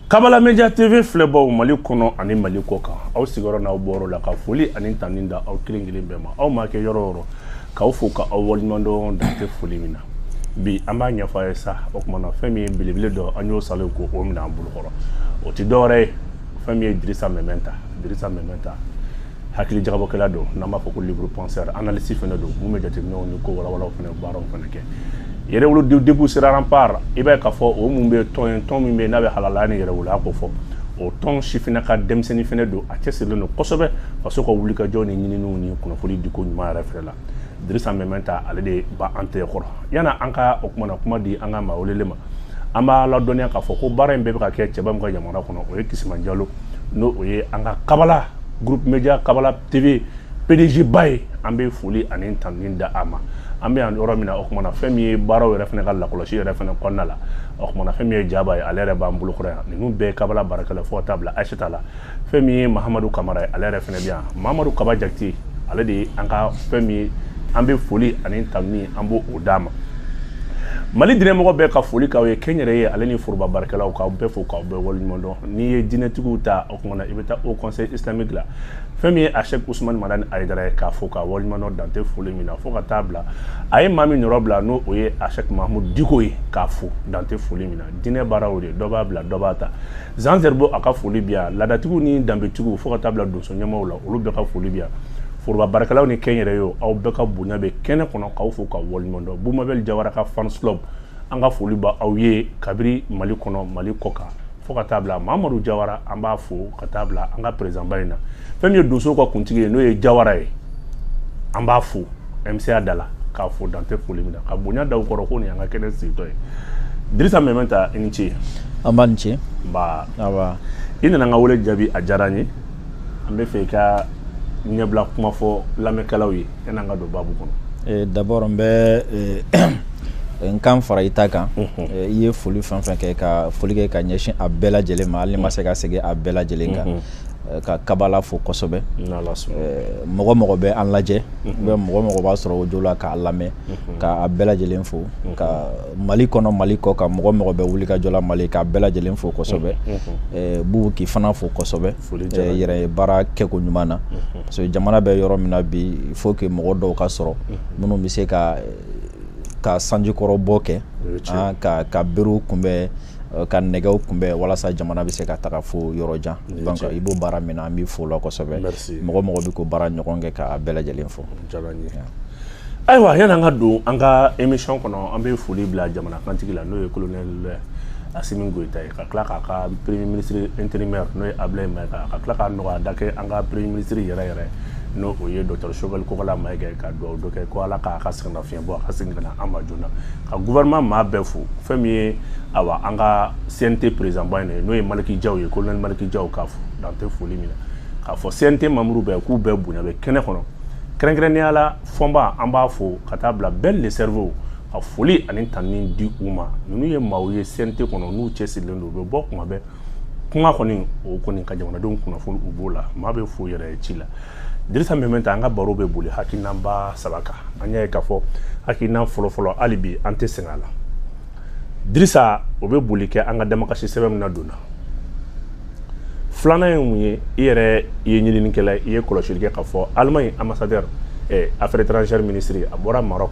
kabala media tv filɛbaw mali kɔnɔ ani mali kɔ kan aw sigiyɔrɔ n'aw bɔyɔrɔ la ka foli ani tanuni da aw kelen kelen bɛɛ ma aw ma kɛ yɔrɔ yɔrɔ k'aw fo ka aw waleɲumandɔn dan tɛ foli min na bi an b'a ɲɛfɔ a ye sa o kuma na fɛn min ye belebele dɔ an y'o salen ko o minɛ an bolokɔrɔ o tɛ dɔwɛrɛ ye fɛn min ye dirisa mɛmɛnta dirisa mɛmɛnta hakili jagabɔkɛla don n'an b'a fɔ ko libre penseur analyste fɛnɛ don mun bɛ jateminɛw ni ko walawalaw fɛnɛ baaraw fɛnɛ kɛ yɛrɛwolo debout sur les remparts i b'a ye k'a fɔ o mun bɛ tɔn ye tɔn min bɛ n'a bɛ halalaya ni yɛrɛwoloya ko fɔ o tɔn sifina ka denmisɛnnin fɛnɛ don a cɛsirilen don kosɛbɛ faso ka wulikajɔ ni ɲininiw ni kunnafoni diko ɲuman yɛrɛ fɛnɛ la dirisa mɛmɛnta ale de bɛ an tɛgɛ kɔrɔ yan'an ka o kuma na kuma di an ka maa welelen ma an b'a ladɔnniya k'a fɔ ko baara in bɛɛ bɛ ka kɛ cɛba min ka yamaruya kɔnɔ o ye kisima jalo n'o o ye an ka kabala groupe media kabala tv pdg ba ye an bɛ foli ani tanuni da a ma an bɛ yan yɔrɔ min na o kuma na fɛn min ye baaraw yɛrɛ fɛnɛ ka lakɔlɔsi yɛrɛ fɛnɛ kɔnɔna la o kuma na fɛn min ye jaba ye ale yɛrɛ b'an bolokɔrɔ yan ninnu bɛɛ ye kabala baarakɛla fo ka taa bila ayisata la fɛn min ye mahamadu kamara ye ale yɛrɛ fɛnɛ bɛ yan mahamadu kaba jakite ale de ye an ka fɛn min ye an bɛ foli ani tanuni an b'o d'a ma mali dinɛmɔgɔ bɛɛ ka foli k'aw ye kɛnyɛrɛye ale ni foroba baarakɛlaw k'aw bɛɛ fo k'aw bɛɛ waleɲuman dɔn n'i ye dinɛtigiw ta o kuma na i bɛ taa haut conseil islamique la fɛn min ye a chek usumani madani ayidara ye k'a fo k'a waleɲuman dɔn dan tɛ foli min na fo ka taa bila a ye maa min nɔrɔbila n'o o ye a chek mahamud diko ye k'a fo dan tɛ foli min na dinɛ baaraw de dɔ b'a bila dɔ b'a ta zan zeribo a ka foli bi yan laadatigiw ni danbetigiw fo ka taa bila donso ɲɛmaaw la olu bɛɛ ka foli bi yan foroba baarakɛlaw ni kɛnyɛrɛyew aw bɛɛ ka bonya bɛ kɛnɛ kɔnɔ k'aw fo ka waleɲumandɔn bubu mabɛli jawara ka fans club an ka foli bɛ aw ye kabiri mali kɔnɔ mali kɔ kan fo ka taa bila mamadu jawara an b'a fo ka taa bila an ka perezidanba in na fɛn min ye donsow ka kuntigi ye n'o ye jawara ye an b'a fo MCA da la k'a fo dan tɛ foli min na ka bonya da u kɔrɔ ko nin y'an ka kɛnɛ sigitɔ ye Dirisa Mɛmɛnta i ni ce nba i ni ce nba awa i nana n ka wele jaabi a diyara n ye an b'a fɛ i ka ɲɛbila kuma fɔ lamɛnkɛlaw ye yan'an ka don baabu kɔnɔ Eh, d'abord n bɛ eh, eh, n kan fara i ta kan Eh, i ye foli fɛn fɛn kɛ ka foli kɛ ka ɲɛsin a bɛɛ lajɛlen ma hali ni n ma se ka segin a bɛɛ lajɛlen kan eh, ka kabala fo kosɛbɛ eh, mɔgɔ o mɔgɔ bɛ an lajɛ mhm. bɛ mɔgɔ o mɔgɔ b'a sɔrɔ audio la k'a lamɛn mhm. k'a bɛɛ lajɛlen fo mhm. ka mali kɔnɔ mali kɔ kan mɔgɔ o mɔgɔ bɛ wulikajɔ la mali k'a bɛɛ lajɛlen fo kosɛbɛ eh, bubu k'i fana fo kosɛbɛ yɛrɛ ye baara kɛko ɲuman na parce que jamana bɛ yɔrɔ min na bi il faut que mɔgɔ dɔw ka sɔrɔ minnu bɛ se ka ka sanjikɔrɔ bɔ kɛ ah, ka ka berew kunbɛn Euh, ka nɛgɛw kunbɛn walasa jamana bɛ se ka taga fo yɔrɔ jan donc i b'o baara min na an b'i fo la kosɛbɛ mɔgɔ o mɔgɔ bɛ k'o baara ɲɔgɔn kɛ k'a bɛɛ lajɛlen fo ayiwa yanni an ka don an ka émission kɔnɔ an bɛ foli bila jamana kantigi la n'o ye colonel Asimi Goyita ye ka tila k'a ka premier ministre intérimaire n'o ye Abulaye Mayiga ka tila ka nɔgɔya da kɛ an ka premier ministre yɛrɛ yɛrɛ n'o ye docteur Choguel Kokala Mayiga ye ka dugawu dɔ kɛ ko Ala k'a ka sɛgɛnnafiɲɛ bɔ a ka segin ka na an ma joona ka gouvernement maa bɛɛ fo fɛn min ye awa an ka CNT président ba in ye n'o ye Maliki Jaw ye colonel Maliki Jaw k'a fo dan tɛ foli min na k'a fɔ CNT membre bɛɛ k'u bɛɛ bonya bɛ kɛnɛ kɔnɔ kɛrɛnkɛrɛnnenya la Fɔnba an b'a fo ka taa bila Ben le cerveau ka foli ani tanuni di u ma minnu ye maaw ye CNT kɔnɔ n'u cɛsirilen don u bɛ bɔ kuma bɛɛ kuma kɔni o kɔni ka jamanadenw kunnafoni u b'o la maa bɛɛ fo yɛrɛ ci la Dirisa Mɛmɛnta an ka baro bɛ boli hakilinaba saba kan an y'a ye k'a fɔ hakilina fɔlɔfɔlɔ hali bi an tɛ sɛgɛn a la Dirisa o bɛ boli kɛ an ka damakasi sɛbɛn min ladonna filanan ye mun ye i yɛrɛ i ye ɲininikɛla i ye kɔlɔsili kɛ k'a fɔ alemaɲi ambassadeur eh, affaires étrangères ministre a bɔra Maroc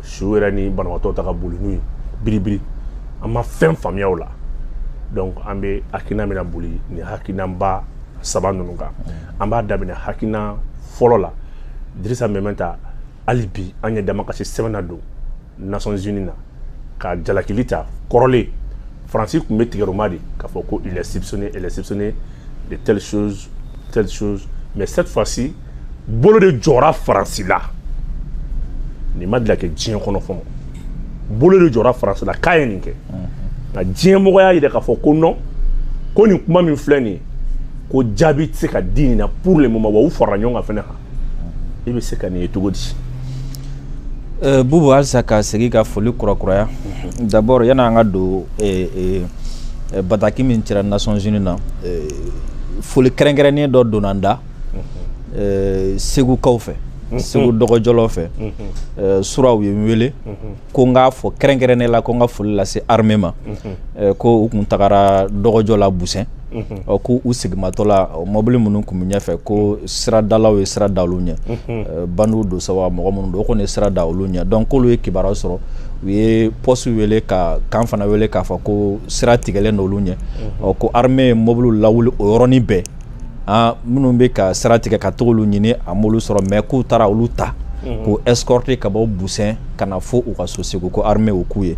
su yɛrɛ ni banabaatɔ ta ka boli n'u ye biribiri an ma fɛn faamuya o la donc an bɛ hakilina bɛna boli nin hakilinaba saba ninnu kan an b'a daminɛ hakilina fɔlɔ la Dirisa Mɛmɛnta hali bi an ye damakasi sɛbɛn ladon Nations Unies na ka jalakili ta kɔrɔlen faransi tun bɛ tigɛroma de k'a fɔ ko il est soupçonné il est soupçonné de telle chose telle chose mais cette fois ci bolo de jɔra faransi la nin ma deli ka kɛ diɲɛ kɔnɔ fɔlɔ bolo de jɔra faransi la k'a ye nin kɛ nka diɲɛmɔgɔ y'a yira k'a fɔ ko nɔn ko nin kuma min filɛ nin ye ko jaabi tɛ se ka di nin na pour le moment wa u farala ɲɔgɔn kan fɛnɛ kan i bɛ se ka nin ye cogo di euh, Bubu halisa ka segin ka foli kurakuraya mhm. d'abord yani an ka don euh, euh, bataki min cira Nations Unies na foli kɛrɛnkɛrɛnnen dɔ donna n da ɛɛ segukaw fɛ segu dɔgɔjɔlaw fɛ ɛɛ sura u ye n wele ko n k'a fɔ kɛrɛnkɛrɛnnenya la ko n ka foli lase armée ma ɛɛ ko u tun tagara dɔgɔjɔ la Busɛn ɔ ko u segimatɔ la mɔbili minnu tun bɛ ɲɛfɛ ko siradalaw ye sira da olu ɲɛ bandiw don sa wa mɔgɔ minnu don o kɔni ye sira da olu ɲɛ donc k'olu ye kibaruya sɔrɔ u ye poste wele ka camp fana wele k'a fɔ ko sira tigɛlen don olu ɲɛ ɔ ko armée ye mɔbiliw lawuli o yɔrɔnin bɛɛ an minnu bɛ ka sira tigɛ ka tag'olu ɲini a m'olu sɔrɔ mais k'u taara olu ta k'u escorter ka bɔ Busɛn ka na fo u ka so Segu ko armée y'o k'u ye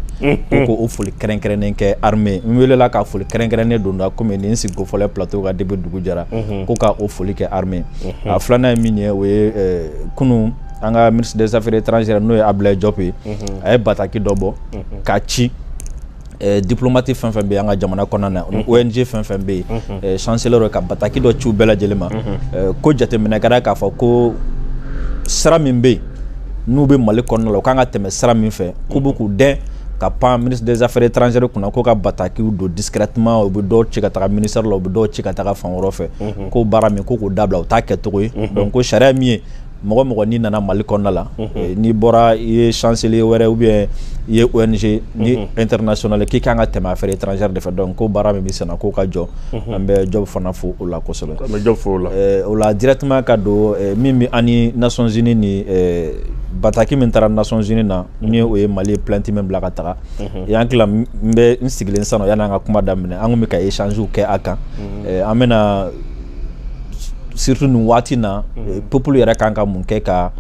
ko k'o foli kɛrɛnkɛrɛnnen kɛ armée n weelela ka foli kɛrɛnkɛrɛnnen don n da komi ne sigiko fɔlɔ plateau kan depuis dugu jɛra ko ka o foli kɛ armée a filanan ye min ye o ye kunun an ka ministre des affaires étrangères n'o ye Abulaye Diop ye a ye bataki dɔ bɔ ka ci Eh, diplomate fɛn fɛn bɛ an ka jamana kɔnɔna na mhm. ONG fɛn fɛn bɛ yen mhm. eh, chancelier ka bataki dɔ ci u bɛɛ lajɛlen ma mhm. eh, ko jateminɛ kɛra k'a fɔ ko sira min bɛ yen n'u bɛ Mali kɔnɔna la u kan ka tɛmɛ sira min fɛ k'u bɛ k'u dɛn ka pan ministre des affaires étrangères kunna ko ka batakiw don discrètement u bɛ dɔw ci ka taga ministère la u bɛ dɔw ci ka taga fan wɛrɛ fɛ ko baara min ko k'o dabila o t'a kɛcogo ye donc ko sariya min ye mɔgɔ mɔgɔ n'i nana Mali kɔnɔna la eh, n'i bɔra i ye chancelier wɛrɛ ou bien i ye ONG ni mhm. international k'i kan ka tɛmɛ affaires étrangères de fɛ donc ko baara min bɛ senna k'o ka jɔ mhm. an bɛ Diop fana fo o la kosɛbɛ an bɛ Diop fo o la eh, o la directement ka don eh, min bɛ ani nations unies ni bataki min taara nations unies na mhm. ni o ye Mali ye plainte min bila ka taga y'an tila n bɛ n sigilen sisan nɔ yanni an ka kuma daminɛ an tun bɛ ka échange kɛ a kan an bɛna surtout nin waati na mhm. peuple yɛrɛ kan ka mun kɛ ka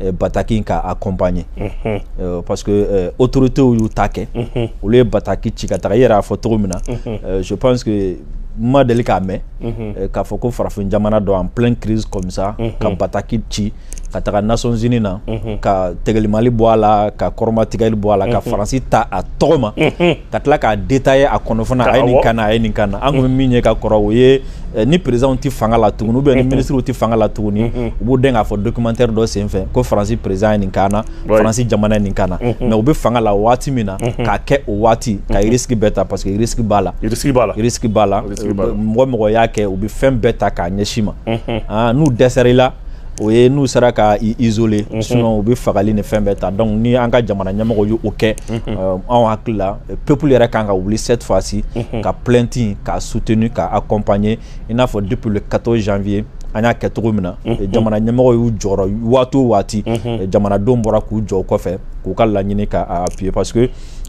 eh, bataki ka accompagner mm -hmm. euh, parce que euh, autorités y'u ta kɛ mm -hmm. olu ye bataki ci ka taga i yɛrɛ y'a fɔ cogo min na mm -hmm. euh, je pense que n ma deli k'a mɛn mhm. eh, k'a fɔ ko farafin jamana dɔ en pleine crise comme ça mhm. ka bataki ci ka taga Nations unies na ka tɛgɛlimali bɔ a la ka kɔrɔmatigɛli bɔ a la ka faransi ta a tɔgɔ ma ka tila k'a détailler a kɔnɔ fana a ye nin k'an na a ye nin k'an na an tun bɛ min ye ka kɔrɔ o ye ni présidentw tɛ fanga la tugun ou bien ni minisiriw tɛ fanga la tuguni u b'u dɛn k'a fɔ documentaire dɔ senfɛ ko faransi président ye nin k'an na faransi jamana ye nin k'an na mais u bɛ fanga la waati min na k'a kɛ o waati ka risque bɛɛ ta parce que risque b'a la risque b'a la mɔgɔ mɔgɔ y'a kɛ u bɛ fɛn bɛɛ ta k'a ɲɛsin i ma n'u dɛsɛra i la o ye n'u sera ka isoler mhm. sinon u bɛ fagali ni fɛn bɛɛ ta donc ni an ka jamana ɲɛmɔgɔ y' o kɛ mhm. euh, anw hakili la peuple yɛrɛ kan ka wuli cette fois-ci mhm. ka plainte ka soutenir ka accompagner i n'a fɔ depuis le quatorze janvier an y'a kɛ cogo min na jamana ɲɛmɔgɔ y'u jɔyɔrɔ waati o waati jamanadenw bɔra k'u jɔ kɔfɛ k'u ka laɲini k'a appuyer parce que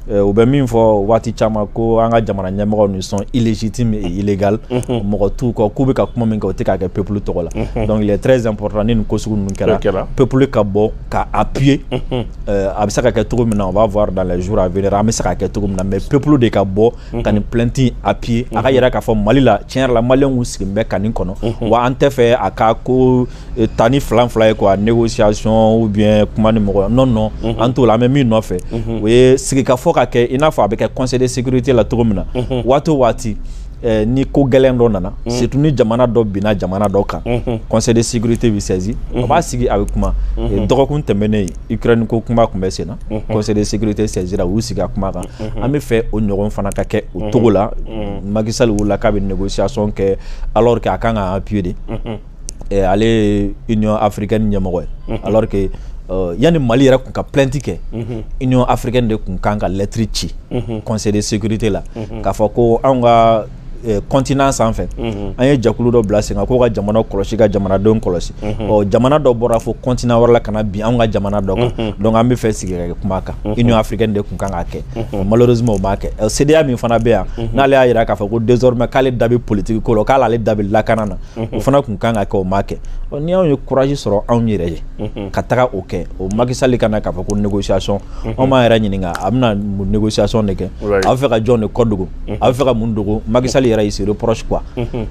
Eh, u bɛ min fɔ waati caman ko an ka jamana ɲɛmɔgɔw ni sont illégitimes illégal mhm. mɔgɔ t'u kɔ k'u bɛ ka kuma min kɛ u tɛ k'a kɛ peuple tɔgɔ la mhm. donc il est très important ni nin ko sugu ninnu kɛra peuple ka bɔ ka a appuyer mhm. eh, a bɛ se ka kɛ cogo min na on va voir dans les jours à venir an bɛ se ka kɛ cogo min na mais peuple de ka bɔ ka nin plainte appuyer a k'a yira k'a fɔ mali la tiɲɛ yɛrɛ la malienw sigilen bɛ ka nin kɔnɔ wa an tɛ fɛ a ka ko Eh, tan ni fila fili ye quoi négociation ou bien kuma ni mɔgɔ non non mm -hmm. an t'o la an bɛ min nɔfɛ mm -hmm. o ye sigikafɔ ka kɛ i n'a fɔ a bɛ kɛ conseil de sécurité la cogo min na mm -hmm. waati o waati eh, ni ko gɛlɛn dɔ nana mm -hmm. surtout ni jamana dɔ binna jamana dɔ kan mm -hmm. conseil de sécurité bɛ saisi mm -hmm. a b'a sigi a bɛ kuma mm -hmm. dɔgɔkun tɛmɛnen ukraine ko kuma tun bɛ sen na mm -hmm. conseil de sécurité saisira u y'u sigi a kuma kan mm -hmm. an bɛ fɛ o ɲɔgɔn fana ka kɛ o cogo la mm -hmm. Macky Sall wulila k'a bɛ négociation kɛ alors que a kan ka appuyer de mm -hmm. eh, ale ye union africaine ɲɛmɔgɔ ye mhm. alors que euh, yanni mali yɛrɛ kun ka plainte kɛ mhm. union africaine de kun kan ka lɛtiri ci mhm. conseil de sécurité la k'a fɔ ko anw ka eh, continent sanfɛ an ye jɛkulu dɔ bila sen kan k'o ka jamana kɔlɔsi ka jamanadenw kɔlɔsi ɔ jamana dɔ bɔra fo continent wɛrɛ la ka na bin anw ka jamana dɔ kan donc an bɛ fɛ sigi ka kuma kan union africaine de kun kan k'a kɛ malheureusement o m'a kɛ ɔ CEDEAO min fana bɛ yan n'ale y'a jira k'a fɔ ko désormais k'ale da bɛ politiki ko la k'ale da bɛ lakana na o fana kun kan ka kɛ o ma kɛ ni anw ye kuraji sɔrɔ anw yɛrɛ ye ka taga o kɛ o Macky Sall ka na k'a fɔ ko négociation anw b'an yɛrɛ ɲininka a bɛna négociation de kɛ a bɛ fɛ ka jɔn de kɔ dogo a bɛ fɛ ka mun dogo Macky Sall yɛrɛ il se reproche quoi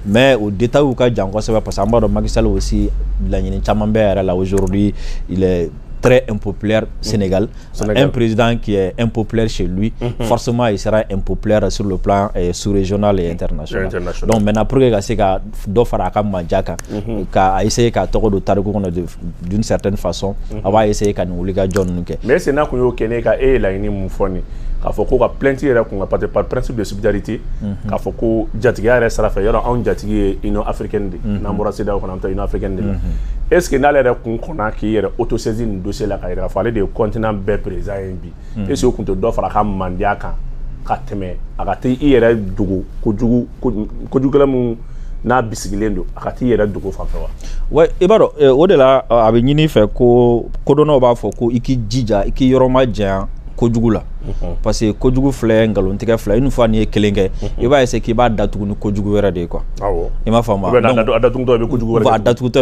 mais o détail ka jan kosɛbɛ parce que an b'a dɔn Macky Sall aussi laɲini caman bɛ yɛrɛ la aujourd'hui très impopulaire mm. Sénégal. Un président qui est impopulaire chez lui, mm-hmm. forcément, il sera impopulaire sur le plan eh, sous-régional et international. Donc maintenant, pour que a ka se ka dɔ fara a ka manja kan, mm-hmm. k'a essayer k'a tɔgɔ don tariku kɔnɔ d'une certaine façon, mm-hmm. a b'a essayer ka nin wulikajɔ ninnu kɛ. Mais sani a k'o kɛ n'a, k'a laɲini mun fɔ ni. k'a fɔ ko ka plainte yɛrɛ kun ka parce que par principe de subsidiarité k'a fɔ ko jatigiya yɛrɛ sira fɛ yɔrɔ anw jatigi ye union africaine de n'an bɔra CEDEAO kɔnɔ an bɛ taa union africaine de la est ce que n'ale yɛrɛ kun kɔnna k'i yɛrɛ autosaisi nin dossier la ka yira k'a fɔ ale de ye continent bɛɛ président ye bi est ce que o kun tɛ dɔ fara a ka mandiya kan ka tɛmɛ a ka t'i yɛrɛ dogo kojugu kojugukɛla min n'a bisigilen don a ka t'i yɛrɛ dogo fan fɛ wa wa i b'a dɔn o de la a bɛ ɲini fɛ ko kodɔnnaw b'a fɔ ko i k'i jija i k'i yɔrɔ ma janya kojugu la parce que kojugu filɛ nkalontigɛ filɛ une fois n'i ye kelen kɛ i b'a essayer k'i b'a datugu ni kojugu wɛrɛ de ye quoi i m'a faamu a datugutɔ bɛ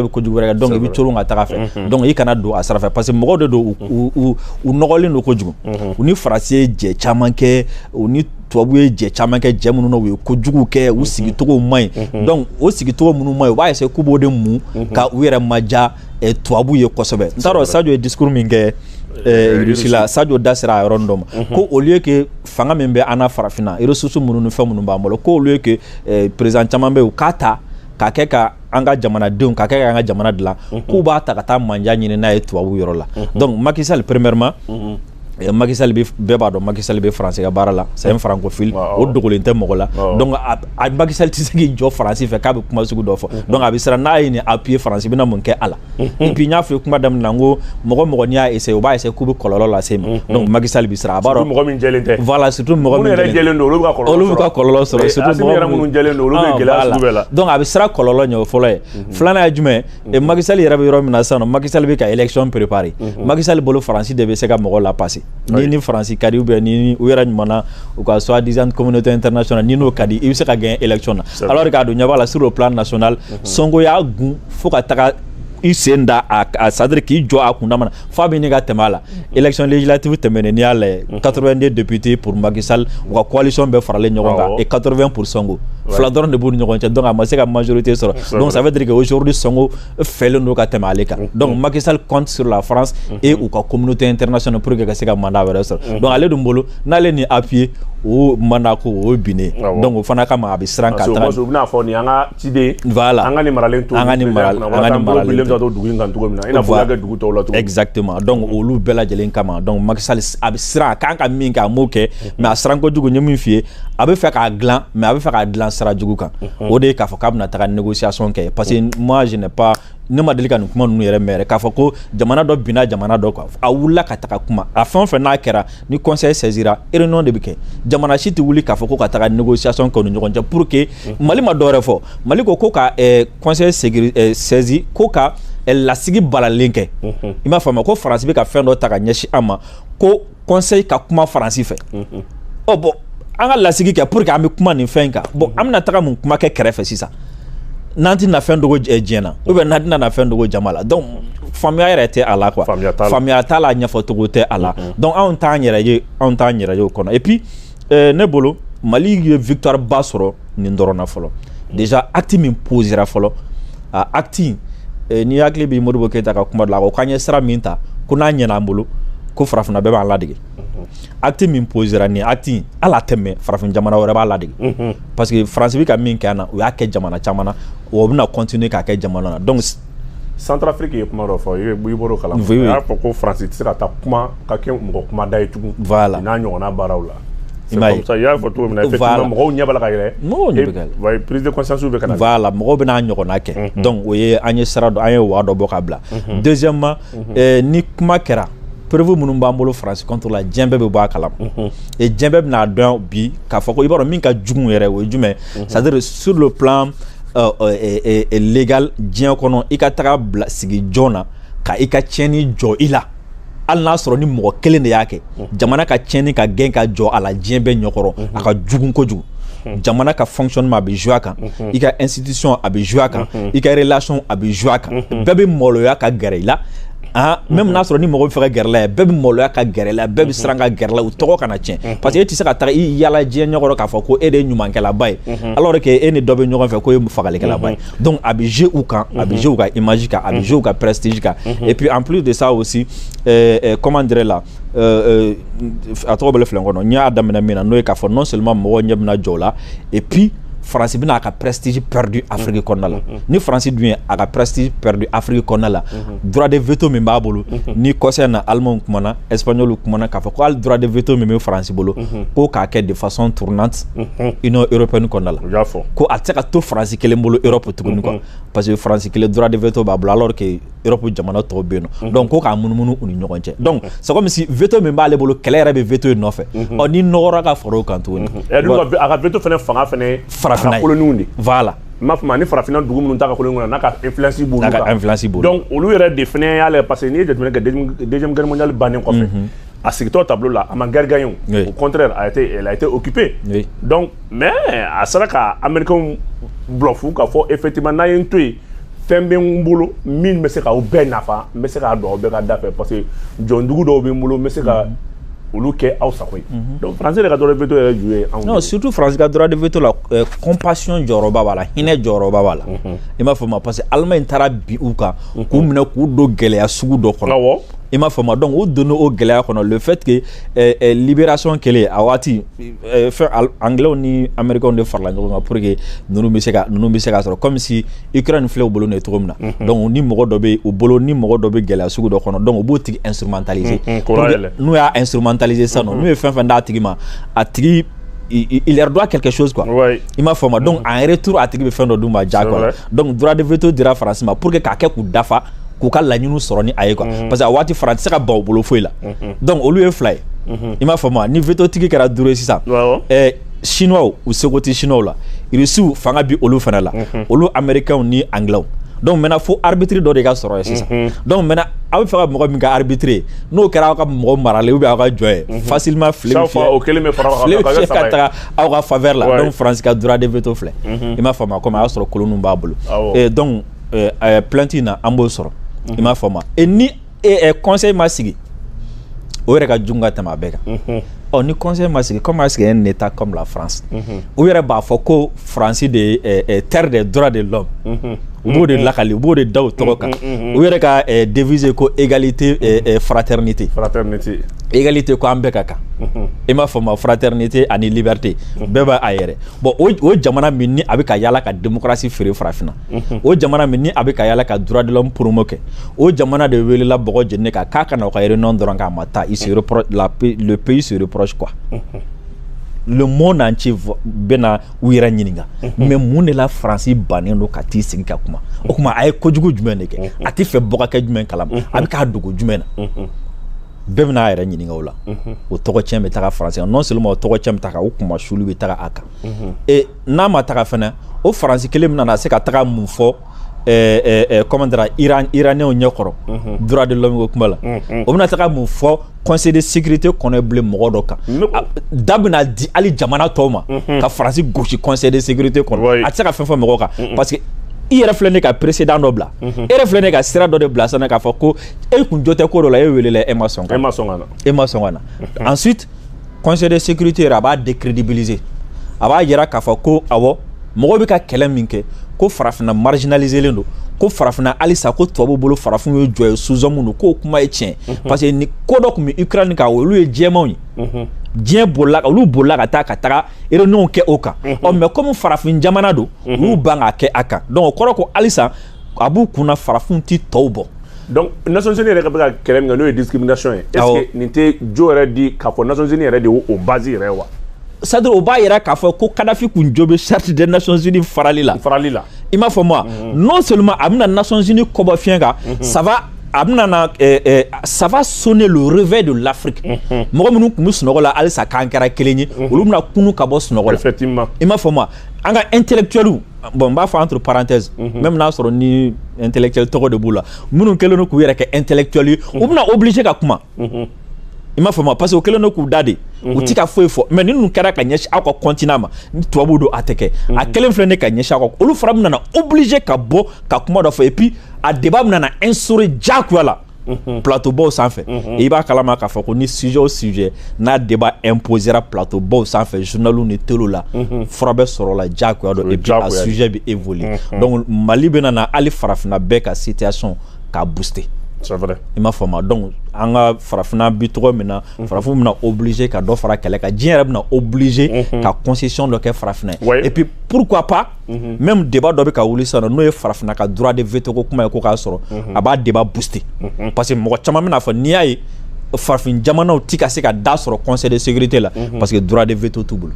kojugu wɛrɛ kɛ donc i bɛ cogo ka taga fɛ donc i kana don a sira fɛ parce que mɔgɔw de don u nɔgɔlen don kojugu u ni faransi ye jɛ caman kɛ u ni tubabu ye jɛ caman kɛ jɛ minnu u ye kojugu kɛ u sigicogo man ɲi donc o sigicogo minnu man ɲi u b'a essayer k'u b'o de mun ka u yɛrɛ manja eh, tubabu ye kosɛbɛ n t'a dɔn Sadio ye discours min kɛ eh, irisi la Sadio da sera a yɔrɔnin dɔ ma mhm. ko au lieu que fanga min bɛ an na farafinna ressources minnu ni fɛn minnu b'an bolo ko au lieu que eh, président caman bɛ yen u k'a ta k'a kɛ ka an ka jamanadenw k'a kɛ ka an ka jamana dilan mhm. k'u b'a ta ka taa manja ɲini n'a ye tubabu yɔrɔ la mhm. donc Macky Sall premièrement Eh, Macky Sall bɛɛ b'a dɔn Macky Sall bɛ faransi ka baara la c'est un francophile o dogolen tɛ mɔgɔ la donc a Macky Sall tɛ se k'i jɔ faransi fɛ k'a bɛ kuma sugu dɔ fɔ mm-hmm. donc a bɛ siran n'a ye nin appuyer faransi bɛna mun kɛ a la mm-hmm. et puis n y'a fɔ kuma daminɛ na n ko mɔgɔ mɔgɔ n'i y'a essayer o b'a essayer k'u bɛ kɔlɔlɔ lase ma mm-hmm. donc Macky Sall bɛ siran a b'a dɔn mɔgɔ min jɛlen tɛ voilà surtout mɔgɔ min yɛrɛ jɛlen don olu bɛ ka kɔlɔlɔ sɔrɔ olu bɛ ka kɔlɔlɔ sɔrɔ surtout mɔgɔ minnu jɛlen don olu bɛ ah, gɛlɛya sugu bɛɛ la donc a bɛ siran kɔlɔlɔ ɲɛ o fɔlɔ ye filanan ye jumɛn ye ɛ Macky Sall yɛrɛ bɛ yɔrɔ min na sisan Macky Sall bɛ ka élection préparer Macky Sall bolo Faransi de bɛ se ka mɔgɔ la passer n'i ni Faransi ka di ou bien ni u yɛrɛ ɲumanna u ka soi-disant communauté internationale n'i n'o ka di i bɛ se ka gagner élection na alors qu'a dun ɲɛ b'a la sur le plan national Sonko y'a gun fo ka taga i sen da a c'est-à-dire k'i jɔ a kundama na f'a bɛ ɲini ka tɛmɛ a la élection législative tɛmɛnen n'i y'a lajɛ 82 députés pour Macky Sall u ka coalition bɛɛ faralen ɲɔgɔn kan et 80 pour Sonko fila dɔrɔn de b'u ni ɲɔgɔn cɛ donc a ma se ka majorité sɔrɔ donc ça veut dire que aujourd'hui Sonko fɛlen don ka tɛmɛ ale kan donc Macky Sall compte sur la France et u ka communauté internationale pour que ka se ka mandat wɛrɛ sɔrɔ donc ale dun bolo n'ale ni appuyer o mandat ko o ye binnen donc o fana kama a bɛ siran ka taga ciden voilà an ka nin maralen to an ka nin maralen an ka nin maralen to dugu in kan cogo min na i n'a fɔ y'a kɛ dugu tɔw la cogo exactement donc mm. olu bɛɛ lajɛlen kama donc Macky Sall a bɛ siran a kan ka min kɛ a m'o kɛ mm-hmm. mais a siran kojugu n ye min f'i ye a bɛ fɛ k'a dilan mais a bɛ fɛ k'a dilan sira jugu kan mm-hmm. o de ye k'a fɔ k'a bɛna taga négociation kɛ parce que mm. moi je n'ai pas ne ma deli ka nin kuma ninnu yɛrɛ mɛn yɛrɛ k'a fɔ ko jamana dɔ binna jamana dɔ kan a wulila ka taga kuma a fɛn o fɛn n'a kɛra ni conseil saisira réunion de bɛ kɛ jamana si tɛ wuli k'a fɔ ko ka taga négociation kɛ u ni ɲɔgɔn cɛ pour que Mali ma dɔwɛrɛ fɔ Mali ko ko ka conseil saisi ko ka lasigi balalen kɛ i m'a faamu ko Faransi bɛ ka fɛn dɔ ta ka ɲɛsin an ma ko conseil ka kuma Faransi fɛ bon an ka lasigi kɛ pour que an bɛ kuma nin fɛn in kan bon an bɛna taga mun kuma kɛ kɛrɛfɛ sisan n'an tɛna fɛn dogo diɲɛ na ou bien n'an tɛna fɛn dogo jama la donc faamuya yɛrɛ tɛ a la quoi faamuya t'a la ɲɛfɔcogo tɛ a la donc anw t'an yɛrɛ ye anw t'an yɛrɛ ye o kɔnɔ et puis euh, ne bolo Mali ye victoire ba sɔrɔ nin dɔrɔn na fɔlɔ déjà acte min posera fɔlɔ a acte euh, n'i hakili bɛ Modibo Keyita ka kuma dɔ la a ko k'an ye sira min ta ko n'a ɲɛna an bolo ko farafinna bɛɛ b'an ladege acte min posera ni acte ala tɛmɛ farafin jamana wɛrɛ b'a ladege mhm. parce que Faransi bɛ ka min kɛ an na u y'a kɛ jamana caman na o bɛna continuer k'a kɛ jamana na donc Centrafrique ye kuma dɔ fɔ i bɔr'o kalama a y'a fɔ ko Faransi tɛ se ka taa kuma ka kɛ mɔgɔ kuma da ye tugun voilà n'a ɲɔgɔnna baaraw la i m'a ye i y'a fɔ cogo min na effectivement mɔgɔw ɲɛ b'a la ka yɛlɛ mɔgɔw ɲɛ bɛ ka yɛlɛ prise de conscience bɛ ka na voilà mɔgɔw bɛn'a ɲɔgɔnna kɛ mhm. donc o ye an ye sira dɔ an ye voie dɔ bɔ ka bila mhm. deuxièmement ni kuma kɛra preuve minnu b'an bolo Faransi contre la diɲɛ bɛɛ bɛ bɔ a kalama et diɲɛ bɛɛ bɛn'a dɔn bi k'a fɔ ko i b'a dɔn min ka jugu yɛrɛ o ye jumɛn c'est-à-dire sur le plan euh, euh, euh, légal diɲɛ kɔnɔ i ka taga bila sigi jɔn na ka i ka tiɲɛni jɔ i la hali n'a sɔrɔ ni mɔgɔ kelen de y'a kɛ jamana ka tiɲɛni ka gɛn ka jɔ a la diɲɛ bɛɛ ɲɛkɔrɔ a ka jugu kojugu jamana ka fonctionnement a bɛ jouer a kan i ka institution a bɛ jouer a kan i ka relation a bɛ jouer a kan bɛɛ bɛ maloya ka gɛrɛ i la Ah, même n'a sɔrɔ ni mɔgɔ bɛ fɛ ka gɛrɛ a la ye bɛɛ bɛ maloya ka gɛrɛ a la bɛɛ bɛ mhm. siran ka gɛrɛ a la u tɔgɔ kana tiɲɛ mhm. parce que e tɛ se ka taa i yala diɲɛ ɲɛkɔrɔ k'a fɔ ko e de ye ɲumankɛlaba ye mhm. alors que e ni dɔ bɛ ɲɔgɔn fɛ k'o ye fagalikɛlaba ye donc a bɛ jouer u kan a bɛ jouer u ka image kan a bɛ jouer u ka prestige kan et puis en plus de ça aussi comment dire là Euh, euh, a tɔ bɛ filen kɔnɔ n y'a daminɛ min na n'o ye k'a fɔ non seulement mɔgɔw ɲɛ bɛna jɔ o la et puis faransi bɛna a ka prestige perdu afiriki kɔnɔna la mm-hmm. ni faransi dun ye a ka prestige perdu afiriki kɔnɔna la mm-hmm. droit de veto min b'a bolo mm-hmm. nin kɔsa in na alimanw kumana espagnolw kumana k'a fɔ ko hali droit de veto min bɛ faransi bolo ko k'a kɛ de façon tournante union européenne kɔnɔna la ko a tɛ se ka to faransi kelen bolo europe tuguni quoi parce que faransi kelen droit de veto b'a bolo alors que europe jamana tɔw bɛ yen nɔ donc ko k'a munumunu u ni ɲɔgɔn cɛ donc c'est comme si veto min b'ale bolo kɛlɛ yɛrɛ bɛ veto in nɔfɛ ɔ n'i nɔgɔra ka fara o kan tuguni a ka veto fana fanga farafinna koloniw de voilà i m'a faamu ni farafinna dugu minnu t'a ka koloni kɔnɔ n'a ka influence b' influence b'olu donc olu yɛrɛ de fana y'a la parce que n'i ye jateminɛ kɛ deuxième guerre mondiale bannen kɔfɛ a sigitɔ table la a ma guerre gagner au contraire elle a été occupée mais a sera ka américains bluffer k'a fɔ effectivement n'a ye n to yen fɛn bɛ n bolo min bɛ se k'aw bɛɛ nafa n bɛ se k'a don aw bɛɛ ka da fɛ parce que jɔndugu dɔw bɛ n bolo n bɛ se ka mhm. olu kɛ aw sago ye mhm. donc faransi de ka droit de veto yɛrɛ ju ye anw non surtout faransi ka droit de veto la euh, compassion jɔyɔrɔba b'a la hinɛ jɔyɔrɔba b'a la mhm. i m'a faamu parce que allemagne taara bin u kan k'u minɛ k'u don gɛlɛya sugu dɔ kɔnɔ awɔ i m'a faamu donc u donna o gɛlɛya kɔnɔ le fait que euh, euh, libération kɛlen a waati fɛn anglais ni américains de farala ɲɔgɔn kan pour que ninnu bɛ se ka ninnu bɛ se ka sɔrɔ comme si Ukraine filɛ u bolo nin ye cogo min na mhm. donc ni mɔgɔ dɔ bɛ u bolo ni mɔgɔ dɔ bɛ gɛlɛya sugu dɔ kɔnɔ donc u b'o tigi instrumentaliser mhm, mhm, n'u y'a instrumentaliser sisan nɔ n'u ye fɛn fɛn d'a tigi ma a tigi il, il leur doit quelque chose quoi. Ouais. I m'a faamu. Donc en retour a tigi bɛ fɛn dɔ d'u ma jagoya. Donc droit de veto dira France ma pour que k'a kɛ k'u dafa k'u ka laɲiniw sɔrɔ ni a ye quoi mhm. parce que a waati France tɛ se ka ban u bolo foyi la mhm. donc olu ye fila ye mhm. i m'a faamu wa ni veto tigi kɛra duuru ye sisan ɛɛ chinois u seko tɛ chinois la irisiw fanga bi olu fana la olu américains ni anglais donc maintenant fo arbitre dɔ de ka sɔrɔ ye sisan mhm. donc maintenant aw bɛ fɛ ka mɔgɔ min kɛ arbitre ye n'o kɛra aw ka mɔgɔ maralen ou bien aw ka jɔn ye mhm. facilement file bɛ fiyɛ file bɛ fiyɛ ka taga aw ka faveur la donc France ka droit de veto filɛ mhm. i m'a faamu a komi a y'a sɔrɔ koloniw b'a bolo donc ɛɛ plainte in na an b'o sɔrɔ i m'a faamu et ni conseil ma sigi o yɛrɛ ka jugu ka tɛmɛ a bɛɛ kan ɔ ni conseil ma sigi comment est-ce qu'un état comme la france u yɛrɛ b'a fɔ ko faransi de ye terre de droits de l'homme u b'o de lakali u b'o de da u tɔgɔ kan u yɛrɛ ka devise ko égalité fraternité fraternité égalité ko an bɛɛ ka kan i m'a faamu fraternité ani liberté bɛɛ bɛ a yɛrɛ bolo o jamana min ni a bɛ ka yala ka démocratie feere farafinna o jamana min ni a bɛ ka yala ka droit de l'homme promo kɛ o jamana de welela bɔgɔ jeninen kan k'a ka na o ka réunion dɔrɔn k'a ma taa il se reproche la le pays se reproche quoi le monde entier bɛna u yɛrɛ ɲininka mais mun de la faransi bannen don ka t'i sigi ka kuma o tuma a ye kojugu jumɛn de kɛ a tɛ fɛ mɔgɔ ka kɛ jumɛn kalama a bɛ k'a dogo jumɛn na bɛɛ bɛna a yɛrɛ ɲininka o la o tɔgɔ tiɲɛ bɛ taga faransi kan non seulement o tɔgɔ tiɲɛ bɛ taga o kunmasuuli bɛ taga a kan et n'a ma taga fana o faransi kelen bɛna na se ka taga mun fɔ comment dire iranienw ɲɛ kɔrɔ droit de l'homme ko kuma la o bɛna taga mun fɔ conseil de sécurité kɔnɔ bilen mɔgɔ dɔ kan da bɛna di hali jamana tɔw ma ka faransi gosi conseil de sécurité kɔnɔ a tɛ se ka fɛn fɔ mɔgɔ kan parce que i yɛrɛ filɛ ne ka précédent dɔ bila e yɛrɛ filɛ ne ka sira dɔ de bila sanni k'a fɔ ko e kun jo tɛ ko dɔ la e welela e ma sɔn ka na e ma sɔn ka na ensuite conseil de sécurité yɛrɛ a b'a décrédibiliser a b'a yira k'a fɔ ko awɔ mɔgɔw bɛ ka kɛlɛ min kɛ ko farafinna marginaliselen don ko farafinna halisa ko tubabu bolo farafin ye jɔn ye sous-homme don k'o kuma ye tiɲɛ mhm. parce que ni ko dɔ tun bɛ ukraine kan olu ye jɛmanw ye mhm. diɲɛ bolila olu bolila ka taa ka taga réunion kɛ o kan mhm. ɔ mais comme farafin jamana don olu ban k'a kɛ a kan donc o kɔrɔ ko halisa a b'u kunna farafin tɛ tɔw bɔ donc nations unies yɛrɛ ka bɛ ka kɛlɛ min kɛ n'o ye discrimination ye est ce que nin tɛ jo yɛrɛ di k'a fɔ nations unies yɛrɛ de y'o base yɛrɛ wa c'est-à-dire o b'a yira k'a fɔ ko kadafi kun jo bɛ charte des nations unies farali la farali la i m'a faamu mhm. non seulement a bɛna nations unies kɔbɔ fiɲɛ kan mhm. ça va a bɛna na eh, eh, ça va sonner le réveil de l'Afrique mhm. mɔgɔ minnu tun bɛ sunɔgɔ la halisa k'an kɛra kelen ye olu bɛna kunun ka bɔ sunɔgɔ la effectivement i m'a faamu an ka intellectuels bon n b'a fɔ entre parenthèses même n'a sɔrɔ ni intellectuel tɔgɔ de b'u la minnu kɛlen don k'u yɛrɛ kɛ intellectuel ye u bɛna obligé ka kuma i m'a faamu parce que u kɛlen don k'u da de u tɛ ka foyi fɔ mais ninnu kɛra ka ɲɛsin aw ka continent ma tubabu don a tɛ kɛ a kɛlen filɛ ne ka ɲɛsin aw kan olu fana bɛna na obligé ka bɔ ka kuma dɔ fɔ et puis a débat bɛna na instaurer jagoya la plateaubaw sanfɛ i b'a kalama k'a fɔ ko ni sujet o sujet n'a débat imposera plateaubaw sanfɛ journaliw ni téléw la fura bɛ sɔrɔ la diyagoya don et puis a sujet bɛ évoluer donc mali bɛna na hali farafinna bɛɛ ka situation k'a booster c'est vrai i m'a faamu donc an ka farafinna bi tɔgɔ min na farafinw bɛna obligé ka dɔ fara kɛlɛ kan diɲɛ yɛrɛ bɛna obligé ka concession dɔ kɛ farafinna ye et puis pourquoi pas même débat dɔ bɛ ka wuli sa n'o ye farafinna ka droit de veto ko kuma ye ko k'a sɔrɔ a b'a débat booster parce que mɔgɔ caman bɛna a fɔ n'i y'a ye farafin jamanaw tɛ ka se ka da sɔrɔ conseil de sécurité la parce que droit de veto t'u bolo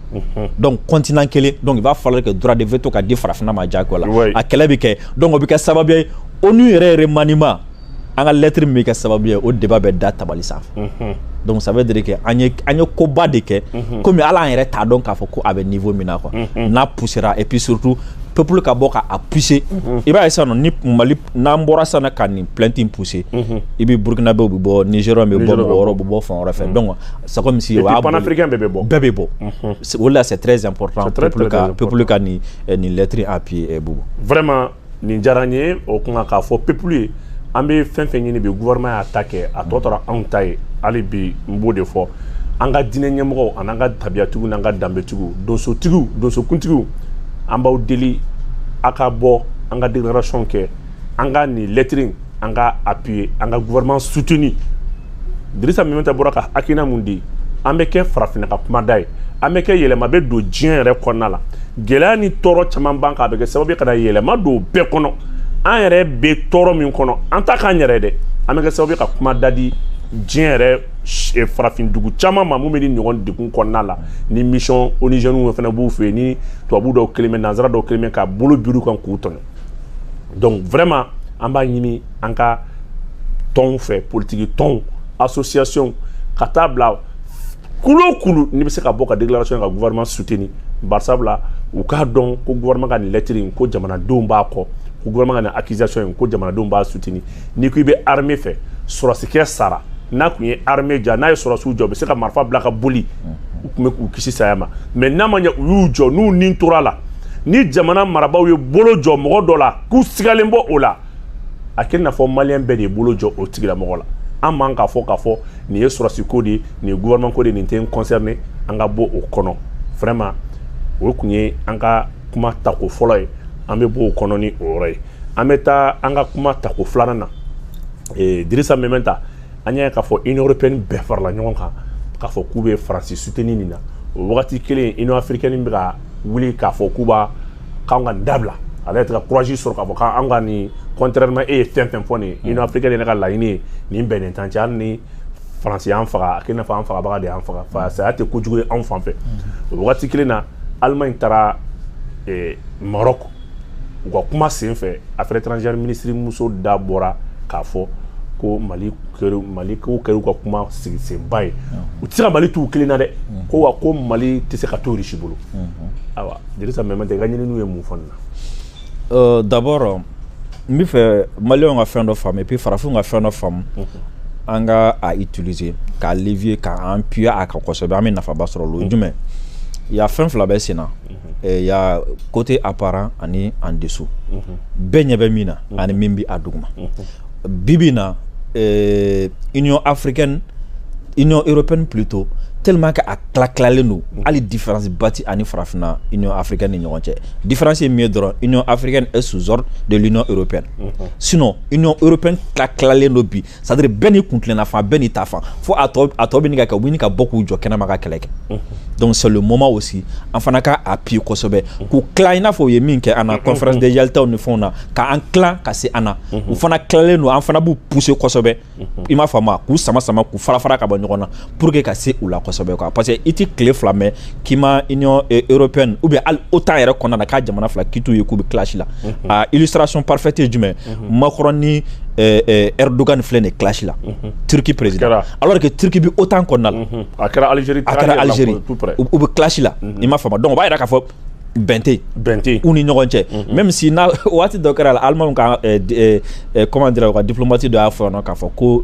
donc continent kelen donc il va falloir que droit de veto ka di farafinna ma jagoya la a kɛlɛ bɛ kɛ donc o bɛ kɛ sababu ye ONU yɛrɛ remaniement an ka lɛtiri min bɛ kɛ sababu ye o débat bɛ da tabali sanfɛ mhm. donc ça veut dire que an ye an ye koba de kɛ mhm. komi hali an yɛrɛ t'a dɔn k'a fɔ ko a bɛ niveau min na quoi mhm. n'a poussera et puis surtout peuple ka bɔ k'a pousser i b'a ye sisan ni mali n'an bɔra sisan na ka nin plainte in pousser i bɛ burkinabɛw bɛ bɔ nigériens bɛ bɔ mɔgɔ wɛrɛw bɛ bɔ fan wɛrɛ fɛ donc c'est comme si o y'a boli bɛɛ bɛ bɔ bɛɛ bɛ bɔ o de la c'est très important peuple ka peuple ka nin nin lettre in appuyer bubu vraiment nin diyara n ye o kuma k'a fɔ peuple ye an bɛ fɛn fɛn ɲini bi gouvernement y'a ta kɛ a tɔ tora anw ta ye hali bi n b'o de fɔ an ka diinɛ ɲɛmɔgɔw an'an ka tabiyatigiw n'an ka danbetigiw donsotigiw donsokuntigiw an b'aw deli a ka bɔ an ka déclaration kɛ an ka nin lɛtiri in an k'a appuyer an ka gouvernement soutenir dirisa meminta bɔra ka hakilina min di an bɛ kɛ farafinna ka kumada ye an bɛ kɛ yɛlɛma bɛ don diɲɛ yɛrɛ kɔnɔna la gɛlɛya ni tɔɔrɔ caman b'an kan a bɛ kɛ sababu ye ka na yɛlɛma don bɛɛ kɔnɔ an yɛrɛ bɛ tɔɔrɔ min kɔnɔ an t'a k'an yɛrɛ dɛ an bɛ kɛ sababu ye ka kuma da di diɲɛ yɛrɛ eh, farafin dugu caman ma min bɛ nin ɲɔgɔn degun kɔnɔna la ni mission onusiennew fana b'u fɛ yen ni tubabu dɔw kɛlen bɛ nanzara dɔw kɛlen bɛ ka bolo biri u kan k'u tɔɲɔ donc vraiment an b'a ɲini an ka tɔnw fɛ politiki tɔnw association ka taa bila kulu o kulu n'i bɛ se ka bɔ ka déclaration ka gouvernement soutenir barisabula u k'a dɔn ko gouvernement ka nin lɛtiri in ko jamanadenw b'a kɔ ko gouvernement ka nin accusation in ko jamanadenw b'a soutenir n'i ko i bɛ armée fɛ sɔrɔsikɛ sara n'a kun ye armée ja n'a ye sɔrɔsiw jɔ u bɛ se ka marifa bila ka boli u tun bɛ k'u kisi saya ma mais n'a ma ɲɛ u y'u jɔ n'u ni tora a la ni jamana marabaaw ye bolo jɔ mɔgɔ dɔ la k'u sigalen b'o la a kɛ i n'a fɔ maliyɛn bɛɛ de ye bolo jɔ o tigilamɔgɔ la an man k'a fɔ k'a fɔ nin ye sɔrɔsi ko de ye nin ye gouvernement ko de ye nin tɛ n concerné an ka bɔ o kɔnɔ vraiment o tun ye an ka kuma tako fɔlɔ ye an bɛ bɔ o kɔnɔ ni o yɔrɔ ye an bɛ taa an ka kuma tako filanan na ee dirisa meminta an y'a ye k'a fɔ union européenne bɛɛ farala ɲɔgɔn kan k'a fɔ k'u bɛ faransi soutenir nin na o wagati kelen union africaine bɛ ka wuli k'a fɔ k'u b'a k'an ka nin dabila ale yɛrɛ tɛ ka courage sɔrɔ k'a fɔ k'an ka nin contrairement e ye fɛn fɛn fɔ nin ye union africaine yɛrɛ ka laɲini ye nin bɛnnen t'an cɛ hali ni faransi y'an faga a kɛ i n'a fɔ an fagabaga de y'an faga fa saya tɛ kojugu ye anw fan fɛ o wagati kelen na allemagne taara maroc u ka kuma sen fɛ affaires étrangères ministre muso da bɔra k'a fɔ ko mali mali ko kɛra ka kuma sigi senba ye u tɛ se ka mali t'u kelen na dɛ mm-hmm. ko wa ko mali tɛ se ka to risi bolo mm-hmm. awa dirisa meminta i ka ɲininiw ye mun fɔ nin na euh, d'abord n bɛ fɛ maliyɛnw ka fɛn dɔ faamu et puis farafinw ka fɛn dɔ faamu mm-hmm. an k'a utiliser k'a levier k'an appuyer a kan kosɛbɛ an bɛ nafaba sɔrɔ o ye jumɛn il y a fɛn fila bɛ sen na Eh, y a côté apparent ani en dessous mhm. bɛɛ ɲɛ bɛ min na mhm. ani min bɛ a duguma mhm. bibi na eh, union africaine union européenne plutôt tellement que a tila tilalen don hali différence ba tɛ a ni farafinna union africaine ni ɲɔgɔn cɛ différence ye min ye dɔrɔn union africaine est sous ordre de l'union européenne sinon union européenne tila tilalen don bi c'est-à-dire bɛɛ n'i kuntilenna fan bɛɛ n'i ta fan fo a tɔ a tɔ bɛ ɲini ka kɛ u bɛ ɲini ka bɔ k'u jɔ kɛnɛma ka kɛlɛ kɛ mhm. donc c'est le moment aussi an fana ka appuyer kosɛbɛ mhm. k'u tila i n'a fɔ u ye min kɛ an na mhm. conférence de Yaltaw ni fɛnw na k'an tila ka se an na u fana tilalen don an fana b'u pousser kosɛbɛ i m'a faamu k'u sama sama k'u fara fara ka bɔ ɲɔgɔn na pour que ka se u la kosɛbɛ quoi parce que i ti tile fila mɛn k'i ma union eh, européenne ou bien hali otan yɛrɛ kɔnɔna na k'a jamana fila k'i t'u ye k'u bɛ clash la mhm. a illustration parfaite ye jumɛn mhm. Macron ni eh, eh, Erdogan filɛ nin clash la mhm. Turquie président alors que Turquie bi otan kɔnɔna la a kɛra Algérie a kɛra Algérie u bɛ clash la i m'a faamu donc o b'a yira k'a fɔ bɛn tɛ bɛn tɛ u ni ɲɔgɔn cɛ mhm. même si na waati dɔ kɛra la Allemagne ka eh, eh, eh, comment dire u ka diplomate dɔ y'a fɔ yan nɔ k'a fɔ ko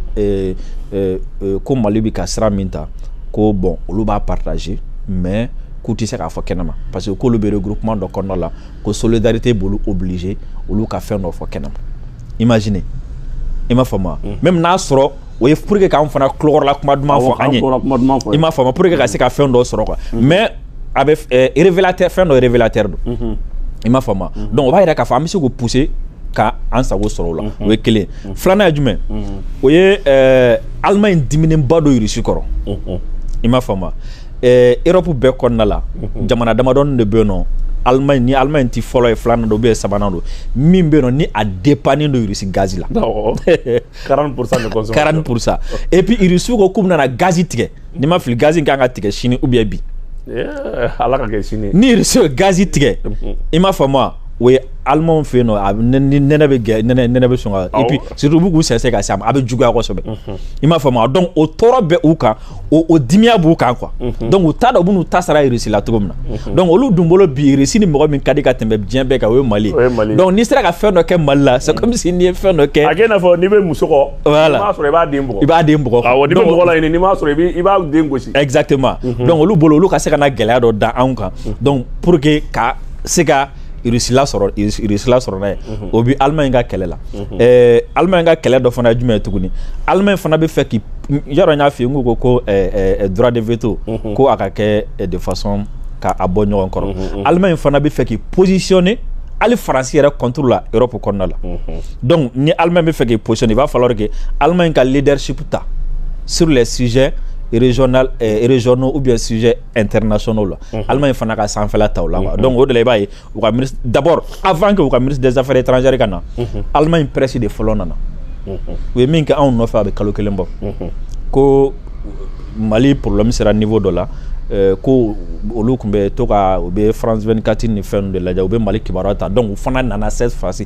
ko mali bɛ ka sira min ta ko bon olu b'a partager mais k'u tɛ se k'a fɔ kɛnɛma parce que k'olu bɛ regroupement dɔ kɔnɔna la ko solidarité b'olu obliger olu ka fɛn dɔ fɔ kɛnɛma imagine i m'a faamu mm. même n'a sɔrɔ o ye pour que k'an fana tulokɔrɔla kuma duman fɔ an ye i m'a faamu pour que ka se ka fɛn dɔ sɔrɔ quoi mm. mais a bɛ eh, révélateur fɛn dɔ révélateur don mm-hmm. i m'a faamu mm-hmm. donc o b'a yira k'a fɔ an bɛ se k'o pousser ka an sago sɔrɔ o la mm-hmm. o ye kelen filanan ye jumɛn o ye eh, Allemagne diminenba don Russie kɔrɔ i m'a faamu Europe bɛɛ kɔnɔna la jamana damadɔn de bɛ yen nɔ Allemagne ni Allemagne tɛ fɔlɔ ye filanan don ou bien sabanan don min bɛ yen nɔ ni a dépendnen don Russie gaz la 40 pour cent de consommation 40 pour cent et puis Russie ko k'u bɛna gaz tigɛ ni n ma fili gaz in kan ka tigɛ sini ou bien bi ala ka kɛ sini ni Russie ye gaz tigɛ i m'a faamu wa o ye Allemagne fɛ yen nɔ a ni nɛnɛ bɛ gɛ nɛnɛ nɛnɛ bɛ sɔn ka et puis surtout u b'u k'u sɛnsɛn ka se a ma a bɛ juguya kosɛbɛ i m'a faamu wa donc o tɔɔrɔ bɛ u kan o o dimiya b'u kan quoi mhm. donc u t'a dɔn u bɛn'u ta sara Russie la cogo min na mhm. donc olu dun bolo bi Russie ni mɔgɔ min ka di ka tɛmɛ diɲɛ bɛɛ kan o ye mali ye donc n'i sera ka fɛn dɔ kɛ mali la c'est mhm. comme si n'i ye fɛn dɔ kɛ a kɛ i n'a fɔ n'i bɛ muso kɔ voilà n'i m'a sɔrɔ i b'a den bugɔ i b'a den bugɔ awɔ n'i bɛ mɔgɔ la ɲini n'i m'a sɔrɔ i b'i i b'a den gosi exactement donc olu bolo olu ka se ka na gɛlɛya dɔ da anw kan donc pour que ka se ka Irisila sɔrɔ irisila sɔrɔ n'a ye o bɛ alima in ka kɛlɛ la alima in ka kɛlɛ dɔ fana ye jumɛn ye tuguni alima in fana bɛ fɛ k' yɔrɔ y'a fɛ yen ko ko ko dɔrɔn de vto ko a ka kɛ defasɔn k'a bɔ ɲɔgɔn kɔrɔ alima in fana bɛ fɛ k'i pɔosisiɔni ali faransi yɛrɛ kɔntu la yɔrɔ kɔnɔnada la dɔnkuc ni alima bɛ fɛ k'i psɔni i b'a fɔ yɔrɔ kɛ alima in ka lidresiku ta sla szɛrezrezɔnna u bɛ szɛ internationaux la mhm. Allemagne fana ka sanfɛla ta o la mhm. donc o de la i b'a ye u ka ministre d'abord avant que u ka ministre des affaires étrangères ka na mhm. Allemagne presse de fɔlɔ nana u ye min kɛ anw nɔfɛ a bɛ kalo kelen bɔ ko Mali problème sera niveau dɔ la euh, ko olu kun bɛ to ka u bɛ France 24 ni fɛn ninnu de lajɛ u bɛ Mali kibaruya ta donc u fana nana cette fois ci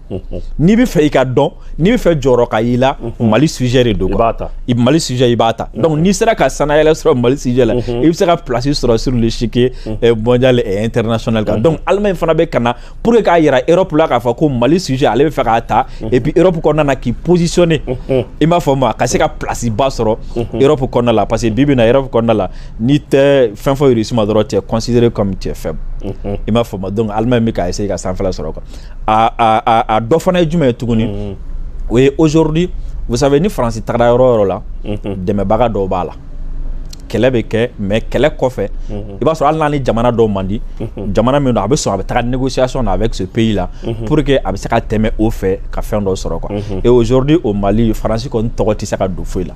n'i bɛ fɛ i ka dɔn n'i bɛ fɛ jɔyɔrɔ ka y'i la mali sujɛ de don i mali sujɛ i b'a ta dɔnku n'i sera ka sanayɛlɛ sɔrɔ mali sijɛ la i bɛ se ka plasi sɔrɔ siri sike bɔnjali ntrsona kan dɔnku ala in fana bɛ ka na pur k'a jira erɔpu la k'a fɔ ko mali sujɛ ale bɛ fɛ k'a ta e bɛ erɔpu kɔnɔna na k'i psisɔnnen i b'a fɔ ma ka se ka plasiba sɔrɔ erɔpu kɔnɔna la parce que bi bɛna yɔrɔɔrɔpu kɔnɔna la n'i tɛ fɛn fɔ suma dɔrɔn cɛsire cɛ fɛ i b'a fɔ ma dɔn ala in bɛ' se ka san sɔrɔ kan a dɔ fana ye jumɛn ye tuguni mm-hmm. o ye aujourd'hui vous savez ni faransi tagara yɔrɔ o yɔrɔ la mm-hmm. dɛmɛbaga dɔw b'a la kɛlɛ bɛ kɛ mais kɛlɛ kɔfɛ mm-hmm. i b'a sɔrɔ hali n'a ni jamana dɔw man di jamana min don a bɛ sɔn a bɛ taga négociation na avec ce pays là pour que a bɛ se ka tɛmɛ o fɛ ka fɛn dɔw sɔrɔ quoi et aujourd'hui au Mali faransi kɔni tɔgɔ tɛ se ka don foyi la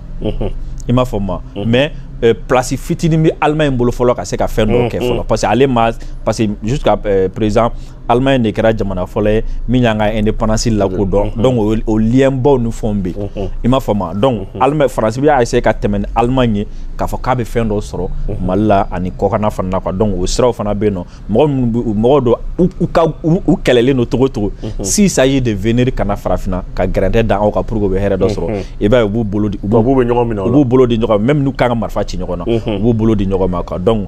i m'a faamu mais Euh, place fitinin bɛ Allemagne bolo fɔlɔ ka se ka fɛn dɔw kɛ fɔlɔ parce que ale ma parce que jusqu'à euh, présent Allemagne de kɛra jamana fɔlɔ ye min y'an ka indépendance lakodɔn mhm. donc o lienbaw ni fɛnw bɛ yen mhm. i m'a faamu donc mhm. Allemagne France bɛ ka essayer ka tɛmɛ ni Allemagne ye k'a fɔ k'a bɛ fɛn dɔ sɔrɔ Mali la ani kɔkanna fana na quoi donc o siraw fana bɛ yen nɔ mɔgɔ minnu bɛ mɔgɔ dɔ u ka u kɛlɛlen don cogo o cogo s'il s'agit de venir ka na farafinna ka gɛrɛntɛ da aw kan pour que u bɛ hɛrɛ dɔ sɔrɔ i b'a ye u b'u bolo di u b'u bolo di ɲɔgɔn ma même n'u kan ka marifa ci ɲɔgɔn na u b'u bolo di ɲɔgɔn ma quoi donc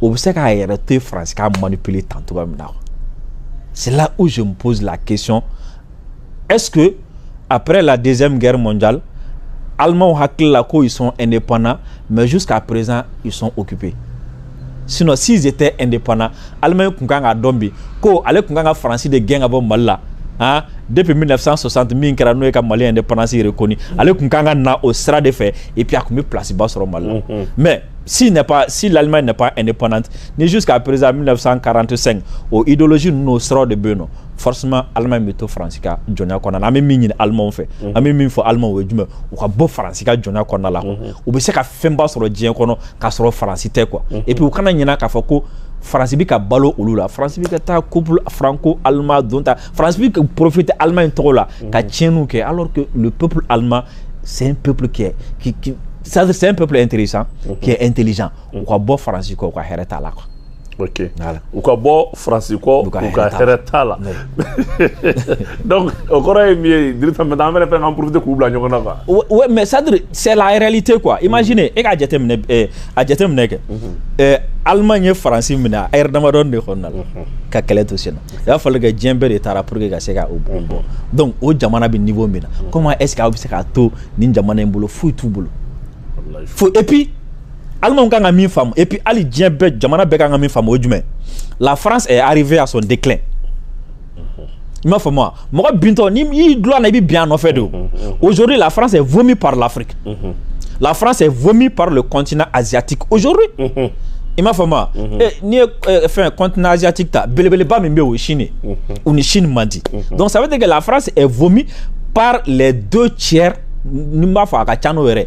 o bɛ se k'a yɛrɛ to yen faransi k'a manipuler tan cogoya min na c'est là où je me pose la question est-ce que après la deuxième guerre mondiale Allemands hakili la ko ils sont indépendants mais jusqu'à présent ils sont occupés sinon s'ils étaient indépendants Allemagne kun kan ka dɔn bi ko ale kun kan ka faransi de gɛn ka bɔ mali la hein, depuis 1960 min kɛra n'o ye ka mali indépendance reconnue ale kun kan ka na o sira de fɛ et puis a kun bɛ place ba sɔrɔ mali la mais si n'est pas si l'Allemagne n'est pas indépendante ni jusqu'à présent 1945 o idéologie n'o siraw de bɛ yen nɔ forcément Allemagne bɛ to France ka jɔnya kɔnɔna la an bɛ min ɲini Allemagne fɛ mhm. an bɛ min fɔ Allemagne o ye jumɛn u ka bɔ France ka jɔnya kɔnɔna la mhm. u bɛ se ka fɛnba sɔrɔ diɲɛ kɔnɔ k'a sɔrɔ France tɛ quoi mhm. et puis u kana ɲinɛ k'a fɔ ko France bɛ ka balo olu la France bɛ ka taa couple franco-allemand don ta France bɛ profiter Allemagne tɔgɔ la ka tiɲɛniw kɛ alors que le peuple allemand c'est un peuple qui est qui qui c'est un peuple intéressant qui est intelligent u ka bɔ France kɔ u ka hɛrɛ t'a la quoi ok u ka bɔ faransi kɔ u ka hɛrɛ t'a la donc o kɔrɔ ye min ye dirisa mɛ an fɛnɛ fɛn k'an profiter k'u bila ɲɔgɔn na quoi ouais mais c'est à dire c'est la réalité quoi imaginez e k'a jateminɛ eh, a jateminɛ kɛ mhm. eh, allemagne ye faransi minɛ lɛrɛ damadɔni de kɔnɔna la mhm. ka kɛlɛ to sen na il a fallu que diɲɛ bɛɛ de taara pour que ka se ka o bon bɔ donc o jamana bɛ niveau min na comment est ce que aw bɛ se k'a to nin jamana in bolo foyi t'u bolo fo et puis Allemands kan ka min faamu et puis hali diɲɛ bɛɛ jamana bɛɛ kan ka min faamu o ye jumɛn la France est arrivée à son déclin i m'a faamu wa mɔgɔ bintɔ n'i y'i dulon a la i bɛ bin a nɔfɛ de aujourd'hui la France est vomie par l'Afrique la France est vomie par le continent asiatique aujourd'hui i m'a faamu wa n'i ye fɛn continent asiatique ta belebeleba min bɛ o ye Chine ye u ni Chine man di donc ça veut dire que la France est vomie par les deux tiers ni n b'a fɔ a ka ca n'o yɛrɛ ye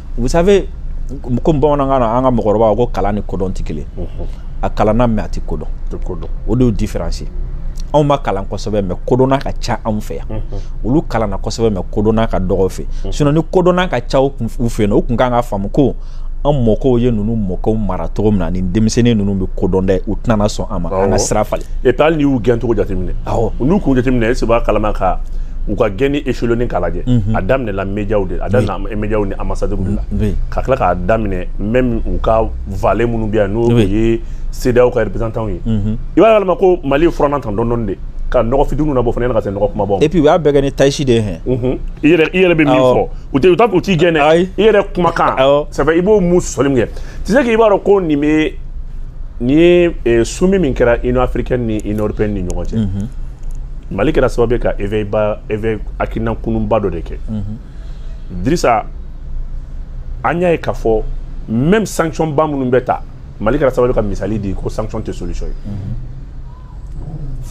vous savez comme bamanankan na an ka mɔgɔkɔrɔba ko kalan ni kodɔn tɛ kelen a kalanna mais a tɛ kodɔn o de y'o différence ye anw ma kalan kosɛbɛ mais kodɔnna ka ca anw fɛ yan olu kalanna kosɛbɛ mais kodɔnna ka dɔgɔ u fɛ sinon ni kodɔnna ka ca u fɛ yen u tun kan ka faamu ko an mɔkɛw ye ninnu mɔkɛw mara cogo min na ni denmisɛnnin ninnu bɛ kodɔn dɛ u tɛna sɔn a ma an ka sira falen et puis hali n'i y'u gɛn cogo jateminɛ n'u k'u jateminɛ est ce i b'a kalama ko u ka gɛnni échelonner k'a lajɛ a daminɛ la médiaw de a daminɛ oui. médiaw ni ambassadeur de la oui. ka tila k'a daminɛ même u ka valet minnu bɛ yan n'o oui. ye CEDEAO ka représentant ye mm -hmm. i b'a kalama ko Mali ye furannan ta dɔɔni dɔɔni de ka nɔgɔ fitininw labɔ fana ka se nɔgɔ kumaba et puis u y'a bɛɛ kɛ ni taasi de ye hɛn mhm. i yɛrɛ i yɛrɛ bɛ min fɔ u tɛ u t'a u t'i gɛn dɛ i yɛrɛ kumakan c'est vrai i b'o mun sɔsɔli min kɛ tu sais que i b'a dɔn ko nin bɛ nin ye eh, sommet min kɛra Union africaine ni Union européenne ni ɲɔgɔn cɛ mhm. mali kɛra sababu ye ka éveil ba éveil hakili lakununba dɔ de kɛ dirisa an y'a ye k'a fɔ même sanction ba minnu bɛ ta mali kɛra sababu ye ka misali di ko sanction tɛ solution ye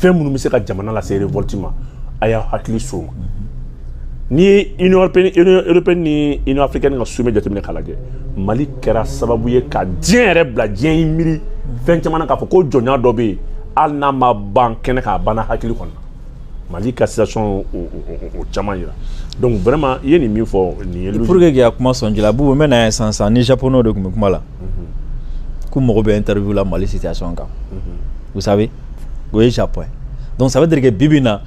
fɛn minnu bɛ se ka jamana lase révolte ma a y'a hakili so ma n'i ye union européenne union européenne ni union africaine ka sommet jateminɛ k'a lajɛ mali kɛra sababu ye ka diɲɛ yɛrɛ bila diɲɛ y'i miiri fɛn caman na k'a fɔ ko jɔnya dɔ bɛ yen hali n'a ma ban kɛnɛ kan a banna hakili kɔnɔ mali ka situation y'o caman yira donc vraiment i ye nin min fɔ nin ye pour que k'a kuma sɔn ji la bubu n bɛ na yan sisan sisan ni japonais de tun bɛ kuma la k'u mago bɛ interview la mali situation kan vous savez o ye japon ye donc ça veut dire que bi bi in na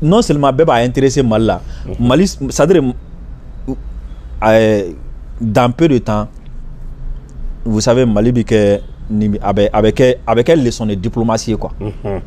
non seulement bɛɛ b'a intéresser mali la mali c'est à dire dans peu de temps vous savez Mali bɛ kɛ ni a bɛ a bɛ kɛ a bɛ kɛ leçon de diplomatie ye quoi unhun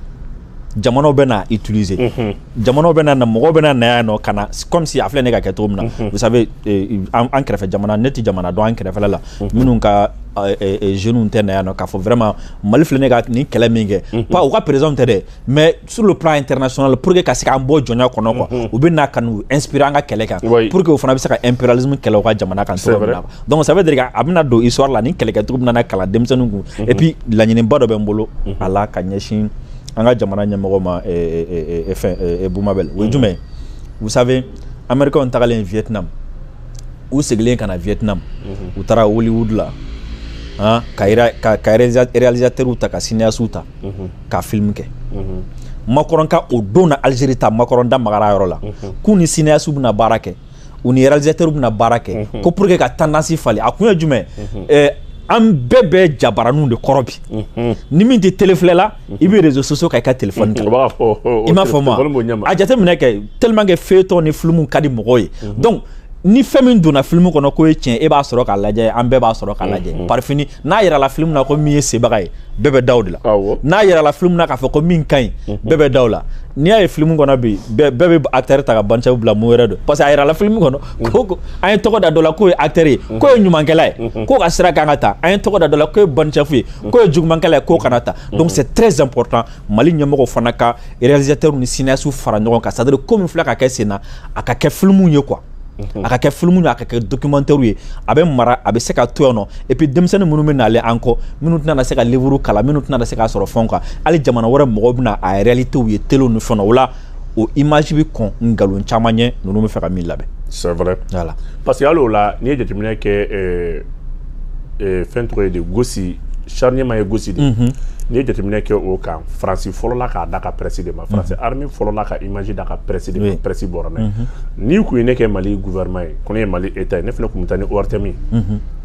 jamanaw bɛ na utiliser unhun jamanaw bɛ na na mɔgɔw bɛ na na yan nɔ ka na comme si a filɛ ne ka kɛ cogo min na unhun vous savez eh, an an kɛrɛfɛ jamana ne tɛ jamana dɔn an kɛrɛfɛla la minnu ka eh, eh, jeunes tɛ na yan nɔ k'a fɔ vraiment Mali filɛ ne ka nin kɛlɛ min kɛ pas u ka président tɛ dɛ mais sur le plan international pour que ka se k'an bɔ jɔnya kɔnɔ quoi mhm. u bɛ na ka n'u inspirer an ka kɛlɛ kan pour que o fana bɛ se ka impérialisme kɛlɛ u ka jamana kan cogo min na donc ça veut dire a bɛna don histoire la nin kɛlɛkɛcogo bɛna na kalan denmisɛnninw kun mhm. et puis laɲiniba dɔ bɛ n bolo mhm. a la ka ɲɛsin an ka jamana ɲɛmɔgɔ ma fɛn Boubou Mabel o ye jumɛn ye vous savez américains tagalen vietnam u segilen ka na vietnam u taara hollywood la ka réalisateurs ta ka cinéastes ta ka film kɛ Macron ka o don na algérie taa Macron da magara yɔrɔ la k'u ni cinéastes bɛna baara kɛ u ni réalisateurs bɛna baara kɛ ko pour que ka tendance falen a kun ye jumɛn an bɛɛ bɛ jabaraniw de kɔrɔ bi ni min tɛ tele filɛ la i bɛ réseaux sociaux kan i ka téléphone ta i m'a fɔ ma a jateminɛ kɛ tellement que feuilleton ni film ka di mɔgɔw ye donc ni fɛn min donna filimu kɔnɔ k'o ye tiɲɛ ye i b'a sɔrɔ k'a lajɛ an bɛɛ b'a sɔrɔ k'a lajɛ mm-hmm. par fini n'a yirala filimu na ko min ye sebaga ye bɛɛ bɛ da o de la n'a yirala filimu na k'a fɔ ko min ka ɲi mm-hmm. bɛɛ bɛ da o la n'i y'a ye filimu kɔnɔ bi bɛɛ bɛ acteur ta ka bancɛfu bila mun wɛrɛ don parce que a yirala filimu kɔnɔ mm-hmm. ko an ye tɔgɔ da dɔ la k'o ye acteur ye k'o ye ɲumankɛla ye k'o ka sira kan ka ta an ye tɔgɔ da dɔ la k'o ye bancɛfu ye k'o ye jugumankɛla ye k'o kana ta donc c'est très important mali ɲɛmɔgɔw fana ka réalisateurs ni cinéastes fara ɲɔgɔn kan c'est à dire ko min filɛ ka kɛ sen na a ka kɛ filimu ye quoi a ka kɛ filimu ye a ka kɛ documentaire ye a bɛ mara a bɛ se ka to yan nɔ et puis denmisɛnnin minnu bɛ nalen an kɔ minnu tɛna na se ka livres kalan minnu tɛna na se k'a sɔrɔ fɛnw kan hali jamana wɛrɛ mɔgɔw bɛna a réalités ye telew ni fɛnw na o la o image bɛ kɔn nkalon caman ɲɛ ninnu bɛ fɛ ka min labɛn. c'est vrai voilà parce que hali o la n'i ye jateminɛ kɛ ɛɛ euh, euh, fɛn tɔgɔ ye di Gossi charnier min ye Gossi de ye. Mhm. n'i ye jateminɛ kɛ o kan faransi fɔlɔla k'a da ka presse de ma mhm. faransi armée fɔlɔla ka image da ka presse de ma presse bɔra n'a ye mhm. n'i kun ye ne kɛ mali gouvernement ye ko ne ye mali état ye ne fana kun bɛ taa ni ORTM ye.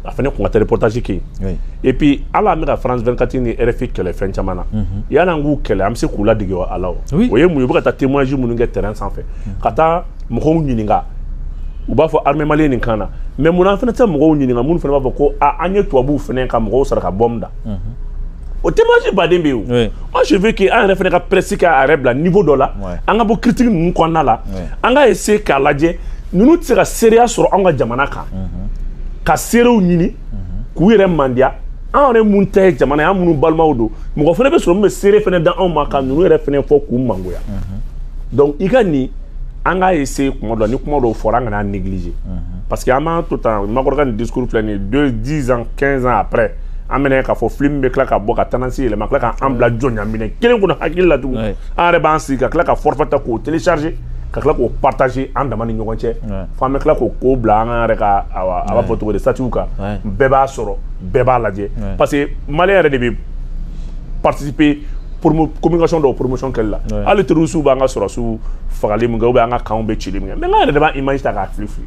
a fana kun ka taa reportage kɛ yen et puis hali an bɛ ka France 24 ni RFI kɛlɛ fɛn caman na yani an k'u kɛlɛ an bɛ se k'u ladege a la o o ye mun ye u bɛ ka taa témoignage minnu kɛ terrain sanfɛ ka taa mɔgɔw ɲininka u b'a fɔ armée malienne nin kan na mais mun na an fana tɛ mɔgɔw ɲininka minnu fana b'a fɔ ko a an ye tubabuw fana ka mɔgɔw sara ka bɔm da o témoignage baden bɛ yen o moi je veux que an yɛrɛ fana ka presse k'a yɛrɛ bila niveau dɔ la an ka bɔ critique ninnu kɔnɔna la an ka essayer k'a lajɛ ninnu tɛ se ka seereya sɔrɔ anw ka jamana kan mhm. ka seerew ɲini mhm. k'u yɛrɛ mandiya an yɛrɛ mun tɛ ye jamana ye an minnu balimaw don mɔgɔ fana bɛ sɔrɔ min bɛ seere fana da anw ma ka ninnu yɛrɛ fana fɔ k'u mangoya mhm. donc i ka nin an ka essayer kuma dɔ la ni kuma dɔw fɔra an kana négliger parce que an b'an to tan Macron ka nin discours filɛ nin ye deux dix ans quinze ans après an bɛna k'a fɔ film bɛ tila ka bɔ ka tendance yɛlɛma tila ka an bila jɔnyaminɛ kelen kɔnɔ hakili la tugun an yɛrɛ b'an sigi ka tila ka forfait ta k'o télécharger ka tila k'o partager an dama ni ɲɔgɔn cɛ f'an bɛ tila k'o ko bila an yɛrɛ ka a b'a fɔ cogo di statut kan bɛɛ b'a sɔrɔ bɛɛ b'a lajɛ parce que maliyɛn yɛrɛ de bɛ participer communication dɔw promotion kɛli la hali terrorisiw b'an ka sɔrɔdasiw fagali min kɛ ou bien an ka camps bɛ cili min kɛ mais an yɛrɛ de b'a image ta k'a fili fili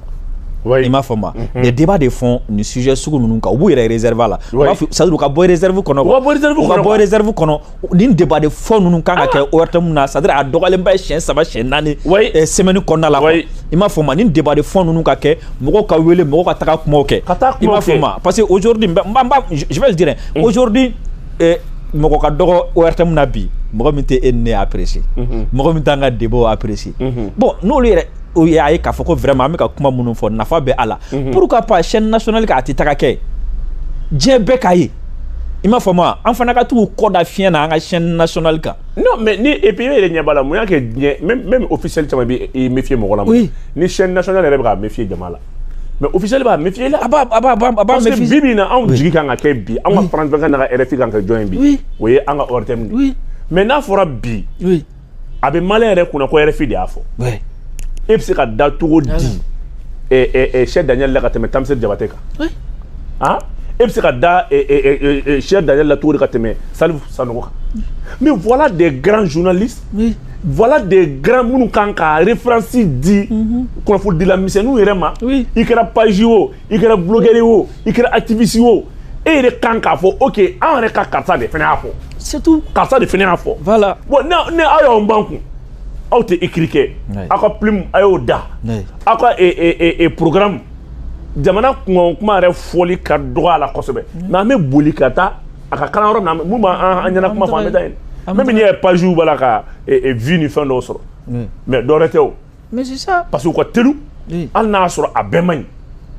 i m'a fɔ ma mɛ deba de fɔ nin sujɛ sugu ninnu kan u b'u yɛrɛ zerifa la sadu ka bɔ zerifu kɔnɔ bɔ zerifu kɔnɔ ni deba de fɔ ninnu kan ka kɛ o yɛrɛ min na sadi a dɔgɔlenba ye siyɛn saba siyɛn naani sɛmɛni kɔnɔnada la i m'a fɔ ma ni deba de fɔ ninnu ka kɛ mɔgɔ ka wele mɔgɔ ka taa kuma kɛ i m'a fɔ ma parce que o jodi jumɛn o jodi mɔgɔ ka dɔgɔ o yɛrɛ min na bi mɔgɔ min tɛ e ni ne y'arese mɔgɔ min t'an ka debo y'arese bɔn n'o yɛrɛ u y'a ye k'a fɔ ko vraiment an bɛ ka kuma minnu fɔ nafa bɛ a la mhm. pourquoi pas chaîne nationale kan a tɛ taga kɛ diɲɛ bɛɛ k'a ye i m'a faamu wa an fana ka to k'o da fiɲɛ na an ka chaîne nationale kan. non mais ni et puis e yɛrɛ ɲɛ b'a la mun y'a kɛ diɲɛ même même officiel caman bɛ i méfier mɔgɔ la. oui ni chaîne nationale yɛrɛ bɛ k'a méfier jama la. mais officiel b'a méfier la. a b'a a b'a a b'a méfier parce que bi bi in na anw jigi kan ka kɛ bi anw ka France vingt-quatre n'an ka RFI kan ka jɔn ye bi. oui o ye an ka ORTM de ye. oui mais n'a fɔra bi. oui a bɛ maliyɛn yɛrɛ kunna ko RFI de y'a fɔ e bɛ se ka da cogo di Serge Daniel la ka tɛmɛ Tamsir Diabaté kan ah e bɛ se ka da Serge Daniel la cogo di ka tɛmɛ Salif Sanogo kan mais voilà des grands journalistes oui. voilà des grands minnu kan ka référence di kunnafonidila misɛnninw yɛrɛ ma i kɛra page o i kɛra blogueur ye o i kɛra activiste ye o e yɛrɛ kan k'a fɔ ok an yɛrɛ ka karisa de fana y'a fɔ c'est tout karisa de fana y'a fɔ voilà bon ne ne aw y'aw ban kun aw tɛ écrit kɛ aw ka plume a y'o da aw ka e, e, e, programme jamana kunkan kuma yɛrɛ fɔli ka dɔgɔ a la kosɛbɛ mais an bɛ boli ka taa a ka kalan yɔrɔ min na min b'an ɲɛna kuma fɔ an bɛ taa yen même n'i ye page b'a la ka vue ni fɛn dɔw sɔrɔ mais dɔwɛrɛ tɛ o parce que u ka telu hali n'a y'a sɔrɔ a bɛɛ man ɲi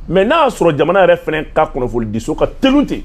mais n'a y'a sɔrɔ jamana yɛrɛ fana ka kunnafonidiso ka telu ten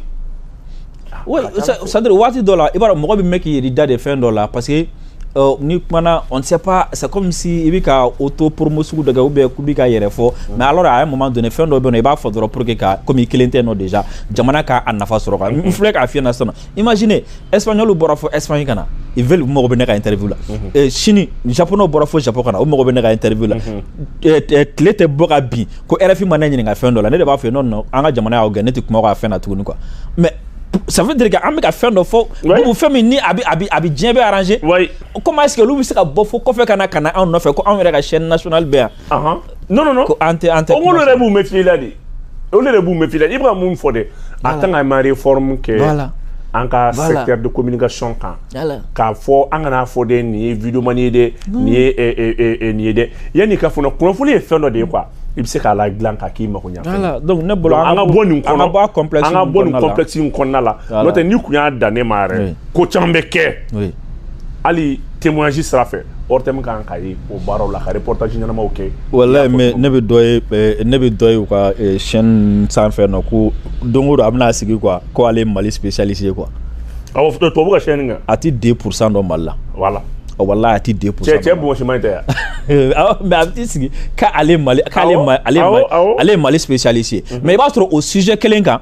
oui c'est-à-dire waati dɔ la i b'a dɔn mɔgɔ bɛ mɛn k'i yɛrɛ da de fɛn dɔ la parce que euh, n'i kumana on ne sait pas c'est comme si i bɛ ka auto promo sugu dɔ kɛ ou bien k'u bɛ ka yɛrɛ fɔ mais alors à un moment donné fɛn dɔ bɛ yen nɔ i b'a fɔ dɔrɔn pour que ka komi i kelen tɛ nɔ déjà jamana ka a nafa sɔrɔ n filɛ k'a f'i ɲɛna sisan imaginez espagnol bɔra fo espagne ka na ils veulent u mago bɛ ne ka interview la mhm. eh, chine japonɛw bɔra fo japon ka na u mago bɛ ne ka interview la mhm. eh, eh, tile tɛ bɔ ka bin ko rfi ma ne ɲininka fɛn dɔ la ne de b'a fɛ non non an ka jamana y'aw gɛn ne tɛ kuma ka fɛn na tuguni quoi mais ça veut dire qu'an bɛ ka fɛn dɔ fɔ bubu fɛn min ni a bɛ a bɛ a bɛ diɲɛ bɛɛ arranger comment est-ce que olu bɛ se ka bɔ fo kɔfɛ ka na ka na anw nɔfɛ ko anw yɛrɛ ka chaîne nationale bɛ yan Ahan. Non, non, non. Ko an tɛ an tɛ. O k'olu yɛrɛ b'u méfier i la de. Olu yɛrɛ b'u méfier i la. I bɛ ka mun fɔ dɛ. A kan ka ma réforme kɛ. Voilà. An ka voilà. secteur de communication kan. Voilà. K'a fɔ an kana fɔ dɛ nin ye videomani ye dɛ. Nin ye ɛ ɛ ɛ nin ye dɛ. Yanni k'a fɔ kunnafoni ye fɛn dɔ de ye quoi. i bɛ se k'a ladilan k'a k'i mago ɲa voilà donc ne bolo an ka bɔ nin kɔnɔ an ka bɔ a complexe an ka bɔ nin complexe in kɔnɔna la n'o tɛ n'i tun y'a dan ne ma yɛrɛ ko caman bɛ kɛ hali témoignage sira fɛ ortm kan ka ye o baaraw la ka reportage ɲɛnamaw kɛ walayi mais ne bɛ dɔ ye eh, ne bɛ dɔ ye u ka eh, chaîne sanfɛ nɔ ko don o don a bɛna sigi quoi ko ale ye mali spécialiste ye quoi awɔ tubabu ka chaîne kan a ti 2 pourcent dɔn mali la voilà oh, walayi a ti 2 pourcent cɛ cɛ bonsima nin tɛ yan awɔ mais a bɛ t'i sigi k'ale mali k'ale mali ale ye mali spécialiste ye mais i b'a sɔrɔ o sujet kelen kan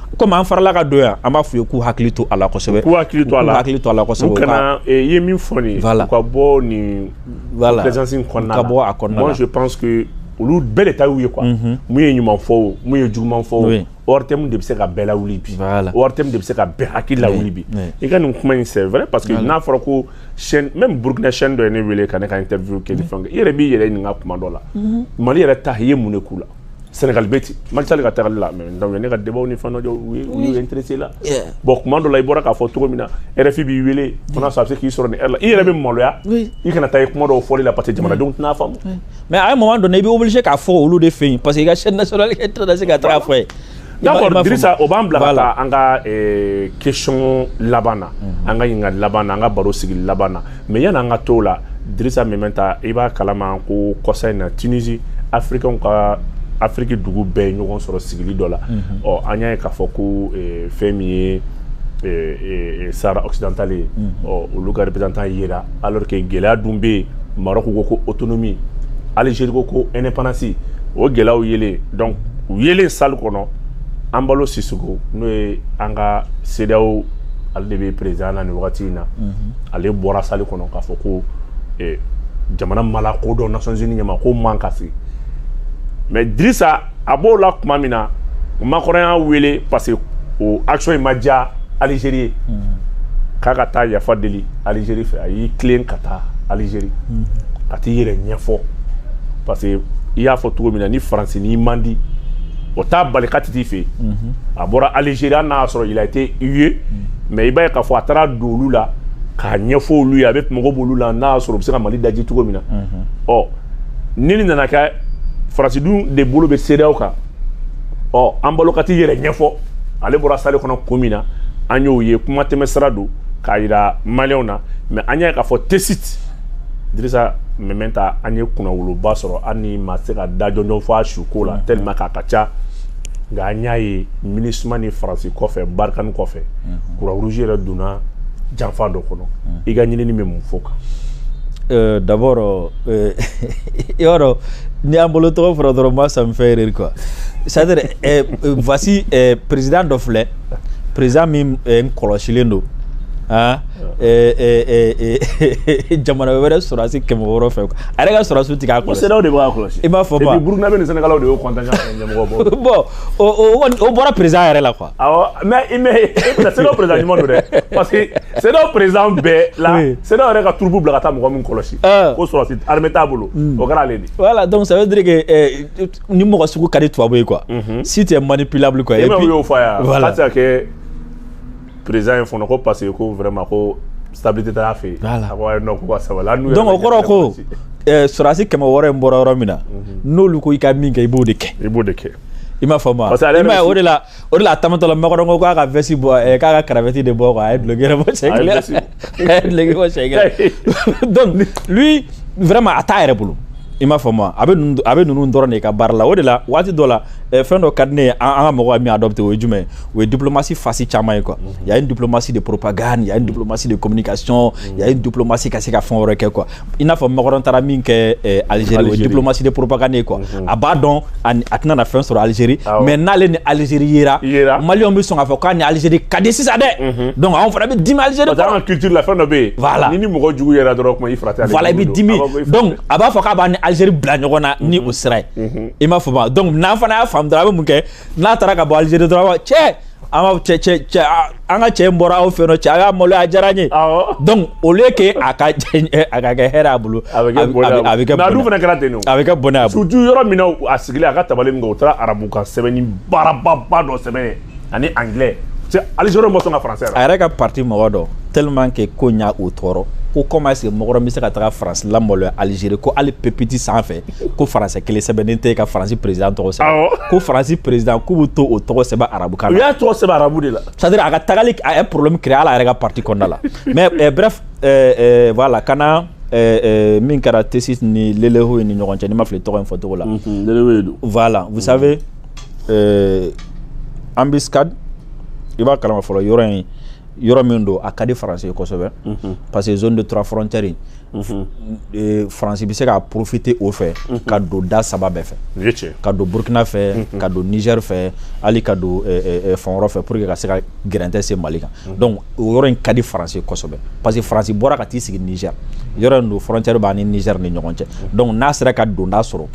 comme an farala ka don yan an b'a f'u ye k'u hakili to a la kosɛbɛ k'u hakili to a la hakili to a la kosɛbɛ u kana i eh, ye min fɔ nin voilà. u ka bɔ nin voilà. présence in kɔnɔna ka bɔ a kɔnɔna moi je pense que olu bɛɛ de ta y'u ye quoi mhm. mun ye ɲuman fɔ o mun ye juguman fɔ o ortm de bɛ se ka bɛɛ lawuli bi ortm de bɛ se ka bɛɛ hakili lawuli bi i ka nin kuma in c'est vrai parce que n'a fɔra ko chaîne même burkina chaîne dɔ ye ne wele ka ne ka interview kɛ ni fɛn kɛ i yɛrɛ b'i yɛrɛ ɲininka kuma dɔ la mhm. mali yɛrɛ ta i ye mun de k'u la Senegali bɛ ten Macky Sall ka taali la ne ka débat ni fɛn u intéressé la bon kuma dɔ la i bɔra k'a fɔ cogo min na RFI b'i wele sa a bɛ se k'i sɔrɔ nin heure la i yɛrɛ bɛ maloya i kana taa i kuma dɔw fɔli la parce que jamanadenw tɛna a faamu mais à un moment donné i bɛ obligé k'a fɔ olu de fɛ yen parce que i ka chaîne nationale i tɛ se ka taa a fɔ yen D'accord Dirisa o b'an bila ka taa an ka euh, question laban na mhm. an ka ɲininkali laban na an ka baro sigi laban na mais yanni an ka t'o la Dirisa Meminta i b'a kalama ko kɔsa in na Tunisie africainw ka afiriki dugu bɛɛ ye ɲɔgɔn sɔrɔ sigili dɔ la mhm. ɔ an y'a ye k'a fɔ ko euh, fɛn min ye euh, sahara occidentale ye mhm. ɔ olu ka représentant yera alors que gɛlɛya dun bɛ yen Maroc ko ko autonomie Algérie ko ko indépendance o gɛlɛyaw yelen donc u yelen salle kɔnɔ Embalo Sissoco n'o ye an ka CEDEAO ale de bɛ président na nin wagati in na ale bɔra salle kɔnɔ k'a fɔ ko eh, jamana ma lakodɔn Nations Unies ɲɛ ma k'o man ka sigi mais Drissa a b'o la tuma min na Macron y'a wele parce que o action in ma diya alizeri ye k'a ka taa yafa deli alizeri fɛ a y'i tilen ka taa alizeri ka t'i yɛrɛ ɲɛfɔ parce que i y'a fɔ cogo min na ni faransi n'i man di o t'a bali ka t'i fɛ yen a bɔra alizeri hali n'a y'a sɔrɔ il a été hué mais i b'a ye k'a fɔ a taara don olu la k'a ɲɛfɔ olu ye a bɛ mago b'olu la n'a y'a sɔrɔ u bɛ se ka mali daji cogo min na ɔ ni nin nana kɛ faransi dun de bolo bɛ CEDEAO kan ɔ Embalo ka t'i yɛrɛ ɲɛfɔ ale bɔra salle kɔnɔ kun min na an y'o ye kuma tɛmɛ sira don k'a yira maliyɛnw na mais an y'a ye k'a fɔ Tessit dirisa Meminta an ye kunnawoloba sɔrɔ hali n'i ma se ka da jɔnjɔn fɔ a su ko la tellement k'a ka ca nka an y'a ye minusma ni faransi kɔfɛ barikani kɔfɛ croix mhm. rouge yɛrɛ donna janfa dɔ kɔnɔ mhm. i ka ɲinini bɛ mun fɔ o kan euh, d'abord euh, i b'a dɔn ni Embalo tɔgɔ fɔra dɔrɔn moi ça me fait rire quoi c'est à dire euh, voici président dɔ filɛ président min n kɔlɔsilen don Ah, eh, eh, eh, jamana wɛrɛ sɔrɔdasi kɛmɛ wɔɔrɔ fɛ a yɛrɛ ka sɔrɔdasiw tɛ k'a kɔlɔsi. Ko CEDEAO de b'a kɔlɔsi. I m'a faamu. Et puis Burukinabɛ ni Sɛnɛgalaw de y'o contingent. o bɔra perez yɛrɛ la kuwa mɛ i mɛ se perez ɲuman don dɛ parce que se perez bɛɛ la se yɛrɛ ka tuurubu bila ka taa mɔgɔ min kɔlɔsi ko sɔrɔsi hame t'a bolo o kɛra ale de wala dɔnku saba deke ni mɔgɔ sugu ka di tubabu ye kuwa si tɛ man ni pbili kuwa e y'o fɔ yan kɛ président ye fana ko parce que ko vraiment ko stabilité t'a fɛ yen donc o kɔrɔ ko sɔrɔsi kɛmɛ wɔɔrɔ in bɔra yɔrɔ min na mhm. n'olu ko i ka min kɛ i b'o de kɛ i b'o de kɛ i m'a faamu o de la o de la a taamatɔla Macron ko k'a ka veste bɔ k'a ka cravate de bɔ a ye duloki bɔ donc lui vraiment a t'a yɛrɛ bolo i m'a faamu a bɛ a bɛ ninnu dɔrɔn de ka baara la o de la waati dɔ la eh, fɛn dɔ ka di ne ye an ka mɔgɔw ye min adopté o ye jumɛn ye o ye diplomatie face caman ye quoi mhm. il y a une diplomatie de propagande il y a une diplomatie de communication il y a une diplomatie ka se ka fɛn wɛrɛ kɛ quoi i n'a fɔ Macron taara min kɛ eh, algérie o ye diplomatie de propagande ye quoi mhm. a b'a dɔn a tɛna na fɛn sɔrɔ algérie mais n'ale ni algérie yera maliyɛnw bɛ sɔn k'a fɔ k'a ni algérie ka di sisan dɛ mhm. donc anw fana bɛ dimi algérie kɔrɔ an ka culture la fɛn dɔ bɛ yen voilà n'i ni mɔgɔ jugu yera dɔrɔn kuma i fara tɛ voilà i bɛ dimi donc a b'a fɔ k'a b'an ni algérie bila ɲɔgɔn na ni mhm. o sira ye i m'a faamu donc n'an fana y'a faamu dɔrɔn a bɛ mun kɛ n'a taara ka bɔ Algérie dɔrɔn cɛ an ka cɛ cɛ cɛ an ka cɛ in bɔra aw fɛ yen nɔ cɛ a y'a maloya a diyara n ye donc au lieu que a ka a ka kɛ hɛrɛ a bolo a bɛ kɛ bɔnɛ a bɛ kɛ bɔnɛ mais a dun fana kɛra ten nɔ a bɛ kɛ bɔnɛ a bolo surtout yɔrɔ min na a sigilen a ka tabali min kan o taara arabu kan sɛbɛnni baarababa dɔ sɛbɛn ani anglais cɛ Algérie ma sɔn ka français la a yɛrɛ ka parti mɔgɔ dɔ tellement que ko in y'o tɔɔrɔ ko comment est-ce que mɔgɔ dɔ bɛ se ka taga France lamaloya Algérie ko hali pupitre sanfɛ ko français kelen sɛbɛnnen tɛ ka faransi président tɔgɔ sɛbɛn ko faransi président k'u bɛ to o tɔgɔ sɛbɛn arabukan na u y'a tɔgɔ sɛbɛn arabu de la c'est-à-dire a ka tagali a ye problème créer hali a yɛrɛ ka parti kɔnɔna la mais eh, bref eh, eh, voilà ka na min kɛra Tessit ni Lelehoye ni ɲɔgɔn cɛ ni n ma fili tɔgɔ in fɔcogo la mhm, voilà vous savez embuscade i b'a kalama fɔlɔ yɔrɔ in yɔrɔ min don a ka di faransi ye kosɛbɛ mhm. parce que zone de trois frontières e, faransi bɛ se ka profiter o fɛ ka don da saba bɛɛ fɛ ka don burukina fɛ ka don nizɛri fɛ hali ka don e, e, fan wɛrɛ fɛ pour que ka se ka gɛrɛntɛ se mali kan donc o yɔrɔ in ka di faransi kosɛbɛ parce que faransi bɔra ka t'i sigi nizɛri yɔrɔ in don frontière b'a ni nizɛri ni ɲɔgɔn cɛ donc n'a sera ka donda sɔrɔ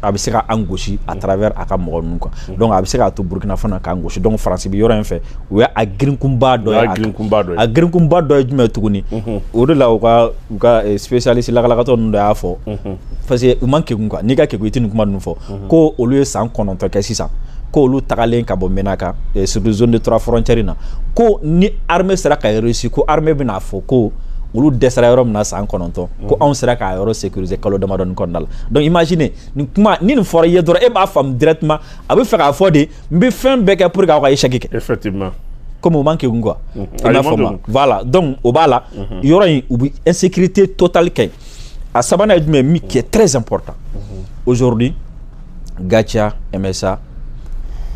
a bɛ se ka an gosi à travers a ka mɔgɔ ninnu quoi mm. donc a bɛ se k'a to Burkina fana k'an gosi donc France bɛ yɔrɔ in fɛ o y'a girinkunba dɔ ye a girinkunba dɔ ye jumɛn tuguni mm-hmm. o de la u ka u ka eh, spécialiste lakalakatɔ ninnu dɔ y'a fɔ mm-hmm. parce que u man kegun quoi n'i ka kegun i tɛ nin kuma ninnu fɔ mm-hmm. ko olu ye san kɔnɔntɔn kɛ sisan ko olu tagalen ka bɔ Menaka eh, surtout zone de trois frontières in na ko ni armée sera ka réussir ko armée bɛna fɔ ko olu dɛsɛra yɔrɔ min na san kɔnɔntɔn ko anw sera k'a yɔrɔ sécuriser kalo damadɔni kɔnɔna la donc imaginez nin kuma ni nin fɔra i ye dɔrɔn e b'a faamu directement a bɛ fɛ k'a fɔ de n bɛ fɛn bɛɛ kɛ pour que aw ka échec kɛ effectivement comme u man kegun quoi mhm. i n'a fɔ ma voilà donc o b'a la mhm. yɔrɔ in u bɛ insécurité totale kɛ a sabanan ye jumɛn min qui est très important mhm. aujourd'hui Gatia MSA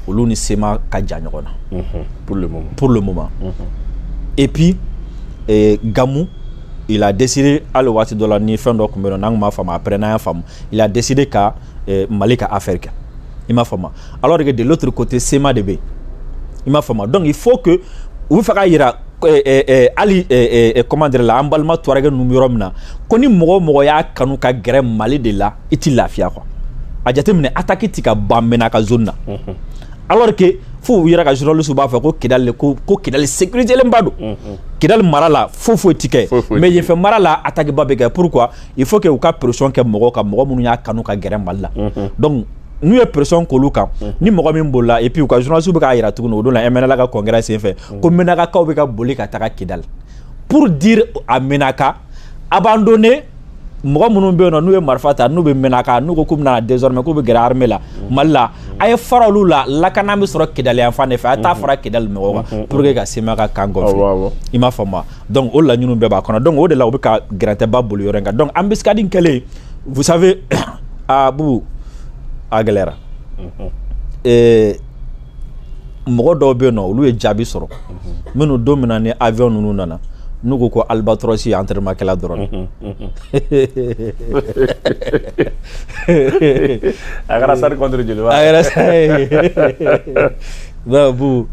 olu ni CMA ka jan ɲɔgɔn na pour le moment pour le moment et puis eh, Gamou il a décidé ale waati dɔ la ni fɛn dɔ tun bɛ yen n'an tun m'a faamu après n'an y'a faamu il a décidé ka eh, Mali ka affaire kɛ i m'a faamu alors que de l'autre côté CMA de bɛ yen i m'a faamu donc il faut que u bɛ fɛ k'a yira eh, eh, eh, hali eh, eh, comment dire la an balima tuwarɛgɛ ninnu bɛ yɔrɔ min na ko ni mɔgɔ o mɔgɔ y'a kanu ka gɛrɛ Mali de la i tɛ lafiya quoi a jateminɛ attaque tɛ ka ban Menaka zone na mhm. alors que fo u yɛrɛ ka journaliste b'a fɔ ko kidali ko ko kidali sécuritélenba don kidali mara la fo foyi tɛ kɛ mais yen fɛ mara la attaque ba bɛ kɛ pourquoi il faut que u ka pression kɛ mɔgɔw kan mɔgɔ minnu y'a kanu ka gɛrɛ mali la donc n'u ye pression k'olu kan ni mɔgɔ min bolila et puis u ka journaliste bɛ k'a yira tuguni o don la MNLA ka congrès senfɛ ko menaka kaw bɛ ka boli ka taga kidali pour dire à menaka abandonner mɔgɔ minnu bɛ yen nɔ n'u ye marifa ta n'u bɛ Menaka n'u ko k'u bɛna désormais k'u bɛ gɛrɛ armée la mali la a ye fara olu la lakana bɛ sɔrɔ kidali yan fan de fɛ a ye taa fara kidali mɔgɔw kan mm-hmm. Mm-hmm. pour que ka CMA ka camp gonfler i m'a faamu wa donc o laɲiniw bɛɛ b'a kɔnɔ donc o de la u bɛ ka gɛrɛntɛba boli yɔrɔ in kan donc embuscade kɛlen vous savez a ah, bubu a gɛlɛyara mm-hmm. eh, mɔgɔ dɔw bɛ yen nɔ olu ye jaabi sɔrɔ minnu don min na ni avion ninnu nana n'u ko ko albatros ye entraînement kɛla dɔrɔn a kɛra sari contre jeliba a kɛra bu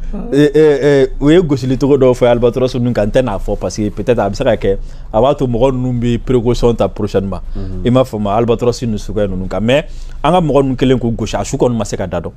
u ye gosili cogo dɔw fɔ albatros ninnu kan n tɛ n'a fɔ parce que peut-être a bɛ se ka kɛ a b'a to mɔgɔ ninnu bɛ précaution ta prochainement i m'a faamu albatros ninnu suguya ninnu kan mais an ka mɔgɔ ninnu kɛlen k'u gosi a su kɔni ma se ka da dɔn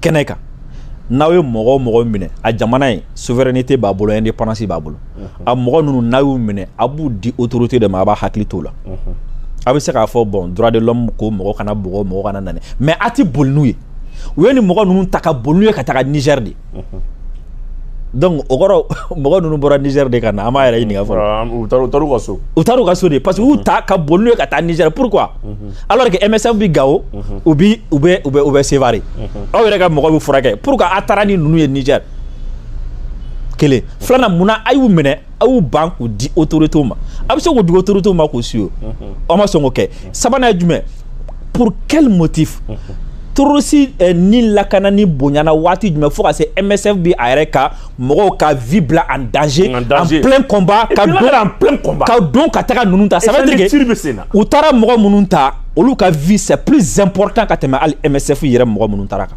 kɛnɛ kan n'aw ye mɔgɔ o mɔgɔ minɛ a jamana ye souveraineté b'a bolo indépendance b'a bolo a mɔgɔ ninnu n'a y'u minɛ a b'u di autorité de ma a b'a hakili t'o la a bɛ se k'a fɔ bon droit de l'homme ko mɔgɔ kana bugɔ mɔgɔ kana ɲani mais a tɛ boli n'u ye u ye nin mɔgɔ ninnu ta ka boli n'u ye ka taga Niger de donc o kɔrɔ mɔgɔ ninnu bɔra Niger de ka na an b'a yɛrɛ ɲini ɲininka fɔlɔ ka so u taara u ka so de parce que u ta ka boli n'u ye ka taa Niger pourquoi alors que MSF bɛ Gao u bɛ Sévaré aw yɛrɛ ka mɔgɔ b'u furakɛ pourquoi a taara ni ninnu ye Niger kelen filanan munna a y'u minɛ a y'u ban k'u di autorité ma a bɛ se k'u di autorité ma k'u suivre a ma sɔn k'o kɛ sabanan ye jumɛn pour quel motif terroriste eh, ni lakanani bonyana waati jumɛn fo ka se MSF bi a yɛrɛ ka mɔgɔw ka vie bila en danger en, danger. en plein combat ka don en plein combat ka don ka taga ninnu ta ça veut dire que u taara mɔgɔ minnu ta olu ka vie c'est plus important ka tɛmɛ hali MSF yɛrɛ mɔgɔ minnu taara kan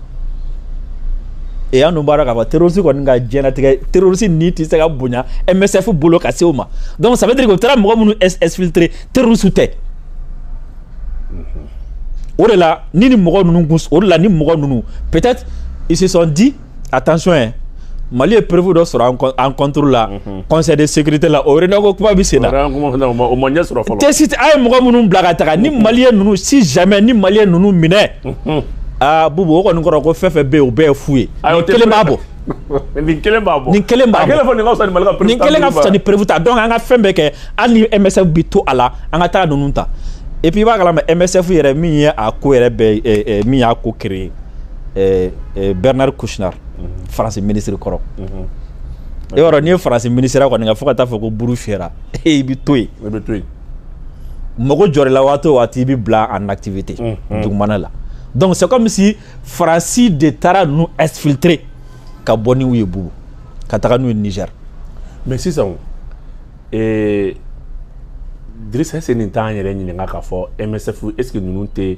et an dun b'a dɔn k'a fɔ terroriste kɔni ka diɲɛlatigɛ terroriste ni tɛ se ka bonya MSF bolo ka se o ma donc ça veut dire que u taara mɔgɔ minnu exfiltrer terroriste tɛ o de la ni ni mɔgɔ ninnu kun o de la ni mɔgɔ ninnu peut-être ils se sont dit attention hein Mali ye preuve dɔ sɔrɔ an contre la mhm. conseil de sécurité la o réunion ko kuma bɛ sen na tɛ si a ye mɔgɔ minnu bila ka taga ni mhm. maliyɛn ninnu si jamais ni maliyɛn ninnu minɛ aa Bubu o kɔni kɔrɔ ko fɛn fɛn bɛ yen o bɛɛ ye fu ye nin kelen b'a bɔ nin kelen b'a bɔ nin kelen b'a bɔ nin kelen ka fisa ni preuve ta donc an ka fɛn bɛɛ kɛ hali ni MSF bi to a la an ka taa ninnu ta et puis i b'a kalama MSF yɛrɛ min ye a ko yɛrɛ bɛɛ min y'a ko créer Bernard Kouchner mhm. France ministre kɔrɔ mhm. e yɔrɔ n'i ye France ministre kɔni ka fo ka taa fɔ ko buru fiyɛra e i bi to yen mago jɔr'i la waati o waati i bɛ bila en activité dugumana la donc c'est comme si faransi de taara ninnu exfiltrer ka bɔ n'u ye Bubu ka taga n'u ye Niger mais sisan ee Dirisa est-ce que nin t'an yɛrɛ ɲininka k'a fɔ MSF est-ce que ninnu tɛ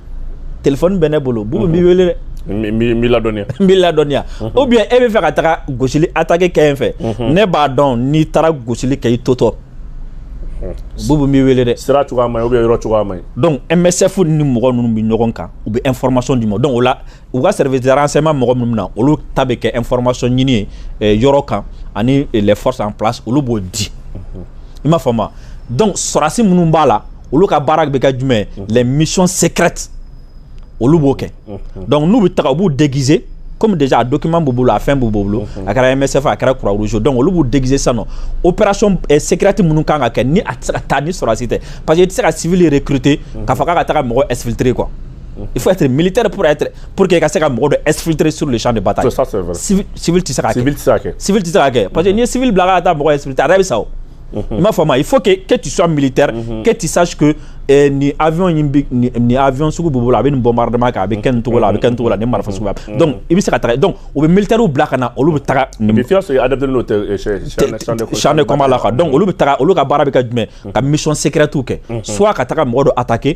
téléphone bɛ ne bolo Bubu n b'i wele dɛ n b'i ladɔnniya n b'i ladɔnniya ou bien e bɛ fɛ ka taga gosili attaque kɛ yen fɛ ne b'a dɔn n'i taara gosili kɛ i totɔ Bubu n b'i wele dɛ sira cogoya man ɲi ou bien yɔrɔ cogoya man ɲi donc MSF ni mɔgɔ ninnu bɛ ɲɔgɔn kan u bɛ information d'i ma donc o la u ka service de renseignement mɔgɔ minnu na olu ta bɛ kɛ information ɲini ye eh, yɔrɔ kan ani eh, les forces en place olu b'o di i m'a faamu donc sɔrɔdasi minnu b'a la olu ka baara bɛ kɛ jumɛn les missions secrètes olu b'o kɛ donc n'u bɛ taga u b'u déguiser comme déjà a document b'u bolo a fɛn b'u bolo a kɛra MSF a kɛra Croix Rouge donc olu b'u déguiser sisan nɔ opération eh, secrète minnu kan ka kɛ ni a tɛ se ka taa ni sɔrɔdasi tɛ parce que i tɛ se ka civil recruter k'a fɔ k'a ka taga mɔgɔ exfiltrer quoi. il faut être militaire pour être pour que ka se ka mɔgɔ dɔ exfiltrer sur le champ de bataille. ça c'est vrai civil civil tɛ se k'a kɛ. civil tɛ se k'a kɛ. civil tɛ se k'a kɛ parce que n'i ye civil bila ka taa mɔgɔ exfiltrer a yɛrɛ bɛ sa o. i m'a faamu il faut que que tu sois militaire. Mhm. que tu saches que eh, ni avion in bi ni, nin avion sugu b'u bolo a bɛ nin bombardement kɛ a bɛ kɛ nin cogo la a bɛ kɛ nin cogo la nin marifa sugu b'a mhm. donc i bɛ se ka taga donc u bɛ militaires bila ka na olu bɛ taga. et puis fiɲɛ sɔrɔ adapté n'o tɛ champ de combat la quoi donc olu bɛ taga olu ka baara bɛ kɛ jumɛn ka mission secrète kɛ soit ka taga mɔgɔ dɔ attaquer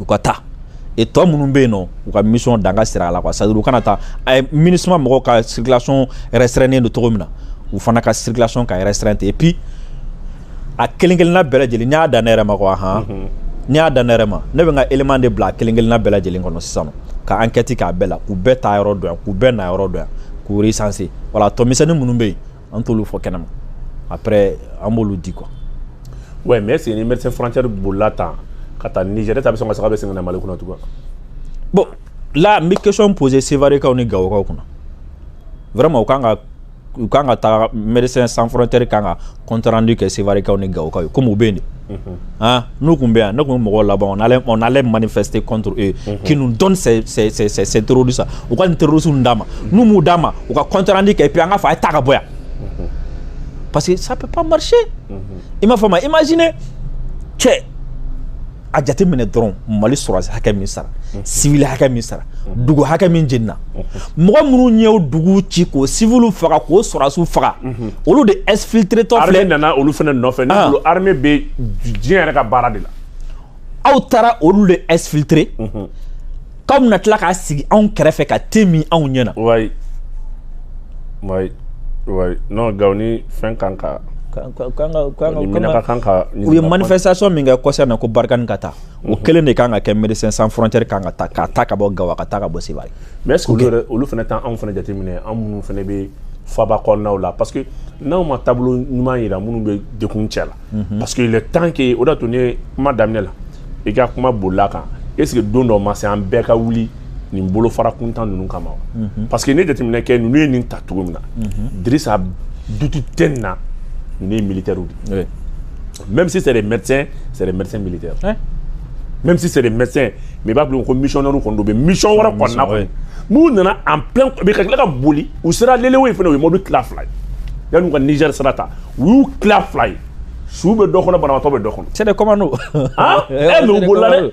u ka taa et tɔ minnu bɛ yen nɔ u ka mission danga sira la quoi c'est à dire u kana taa eh MINUSMA mɔgɔw ka circulation restreinen don cogo min na u fana ka circulation ka restreint et puis a kelen kelenna bɛɛ lajɛlen n'i y'a dan ne yɛrɛ ma quoi han mhm. n'i y'a dan ne yɛrɛ ma ne bɛ n ka élément de bila a kelen kelenna bɛɛ lajɛlen kɔnɔ sisan ka enquête k'a bɛɛ la k'u bɛɛ taa yɔrɔ dɔn yan k'u bɛɛ na yɔrɔ dɔn yan k'u recenser voilà tɔ misɛnnin minnu bɛ yen an t'olu fɔ kɛnɛma après an b'olu di quoi ouais mais c'est ni médecin frontière bolila tan ka taa Niger ta bɛ sɔn ka saga bɛ segin ka na Mali kɔnɔ tugun bon là n bɛ question poser Sevarekaw ni Gawokaw kunna vraiment u kan ka u kan ka taa médecin sans frontière kan ka compte rendu kɛ Sevarekaw ni Gawokaw ye comme u bɛ yen de Aa n'u tun bɛ yan ne tun bɛ mɔgɔw laban n'ale man fɛ se kɔntu ye kin dɔnuru sa u ka teriurusu d'a ma nu b'u d'a ma u ka kɔntarandi kɛ p an ka fa a ye ta ka bɔ yan pa que sa pamari i m'a fɔ ma i ma z cɛ a jate minɛ dɔrɔn mali sɔrɔsi hakɛ min sara sibi hakɛ min sara dugu hakɛ min jenina mɔgɔ minnu y'anw dugu ci k'o civilw faga k'o sɔrɔdasiw faga olu de exfiltrétɔ filɛ nana olu fana nɔfɛ ne bolo ah. armée bɛ diɲɛ yɛrɛ ka baara de la aw taara olu de exfiltrer k'aw bɛna tila k'a sigi anw kɛrɛfɛ ka tɛmɛn anw ɲɛ na ouais ouais ouais non Gawo ni fɛn kan ka u ye manifestation min kɛ kɔsa in na ko Barkhane ka taa o kelen de kan ka kɛ médecin sans frontière kan ka taa ka taa ka bɔ Gawo ka taa ka bɔ Sevare mais est-ce que olu yɛrɛ olu fana t'an anw fana jateminɛ an minnu fana bɛ faaba kɔnɔnaw la parce que n'anw ma tableau ɲuman jira minnu bɛ dekun cɛ la mhm. parce que le temps que o de y'a to ne kuma daminɛ la i ka kuma bolila kan est-ce que don dɔ ma se an bɛɛ ka wuli nin bolofara kuntan ninnu kama mhm. parce que ne jateminɛ kɛ ninnu ye nin ta cogo min na mhm. dirisa doute tɛ nin na ninnu ye militaires de ye même si c'est des médecins c'est des médecins militaires même si c'est des médecins mais i b'a bila ko missionnaires kɔni don u bɛ mission wɛrɛ kɔni na kɔni n'u nana en plein mais ka tila ka boli u sera Lelehoye fana u ye mɔbili tila fila ye yanni ka Niger sira ta u y'u tila fila ye su bɛ dɔ kɔnɔ banabaatɔ bɛ dɔ kɔnɔ c'est des commandos ah eh mais u bolila dɛ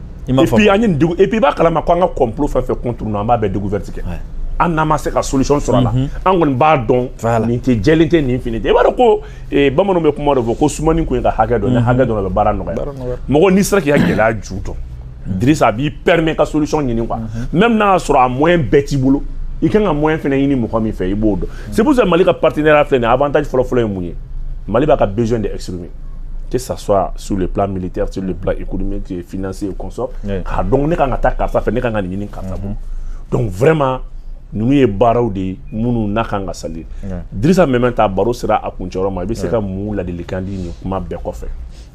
i m'a fɔ et puis an ye dugu et puis i b'a kalama ko an ka complot fɛn fɛn contre ninnu an b'a bɛɛ découverte kɛ hali n'an ma se ka solution sɔrɔ a la mhm. an kɔni b'a dɔn nin tɛ jɛlen tɛ nin fini tɛ i b'a dɔn ko eh, bamananw bɛ kuma dɔ fɔ ko sumani kun ye ka hakɛ dɔn ni mhm. hakɛ dɔnna a bɛ baara nɔgɔya mɔgɔ n'i sera k'i ka gɛlɛya ju dɔn mhm. Dirisa a b'i permet ka solution ɲini quoi même n'a y'a sɔrɔ a moyen bɛɛ t'i bolo i kan ka moyen fana ɲini mɔgɔ min fɛ i b'o dɔn c'est pour ça Mali ka partenariat filɛ nin ye avantage fɔlɔfɔlɔ ye mun ye Mali b'a ka besoin de exprimer que ça soit sur le plan militaire, sur le plan économique, financier et consort. Oui. K'a dɔn ne kan ka taa karisa fɛ, ne kan ka nin ɲini karisa bolo. Donc, vraiment, ninnu ye baaraw de ye minnu n'a kan ka saluer. Dirisa Meminta baro sera a kuncɛ yɔrɔ ma, i bɛ se ka mun ladilikan di nin kuma bɛɛ kɔfɛ?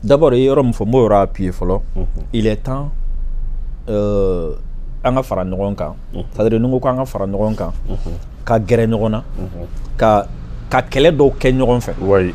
D'abord, i ye yɔrɔ min fɔ, n b'o yɔrɔ appuyer fɔlɔ. Mhm. Il est temps euh, an ka fara ɲɔgɔn kan. Mhm. C'est-à-dire, ni n ko k'an ka fara ɲɔgɔn kan, mhm. ka gɛrɛ ɲɔgɔn na, ka ka kɛlɛ dɔw kɛ ɲɔgɔn fɛ. Oui.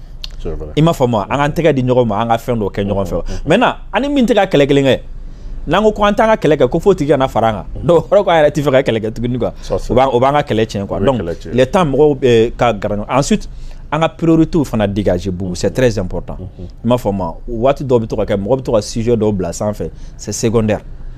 i m'a faamu an k'an tɛgɛ di ɲɔgɔn ma an ka fɛn dɔ kɛ ɲɔgɔn fɛ maintenant an ni min tɛ ka kɛlɛ kelen kɛ n'an ko ko an t'an ka kɛlɛ kɛ ko f'o tigi ka na fara an kan donc o kɔrɔ k'an yɛrɛ tɛ fɛ ka kɛlɛ kɛ tuguni quoi o b'an ka kɛlɛ tiɲɛ quoi donc il est temps mɔgɔw eh, ka gɛrɛ ɲɔgɔn na ensuite an ka priorités fana dégager bubu c'est très important i m'a faamu wa waati dɔw bɛ to ka kɛ mɔgɔ bɛ to ka sujet dɔw bila sanfɛ c'est secondaire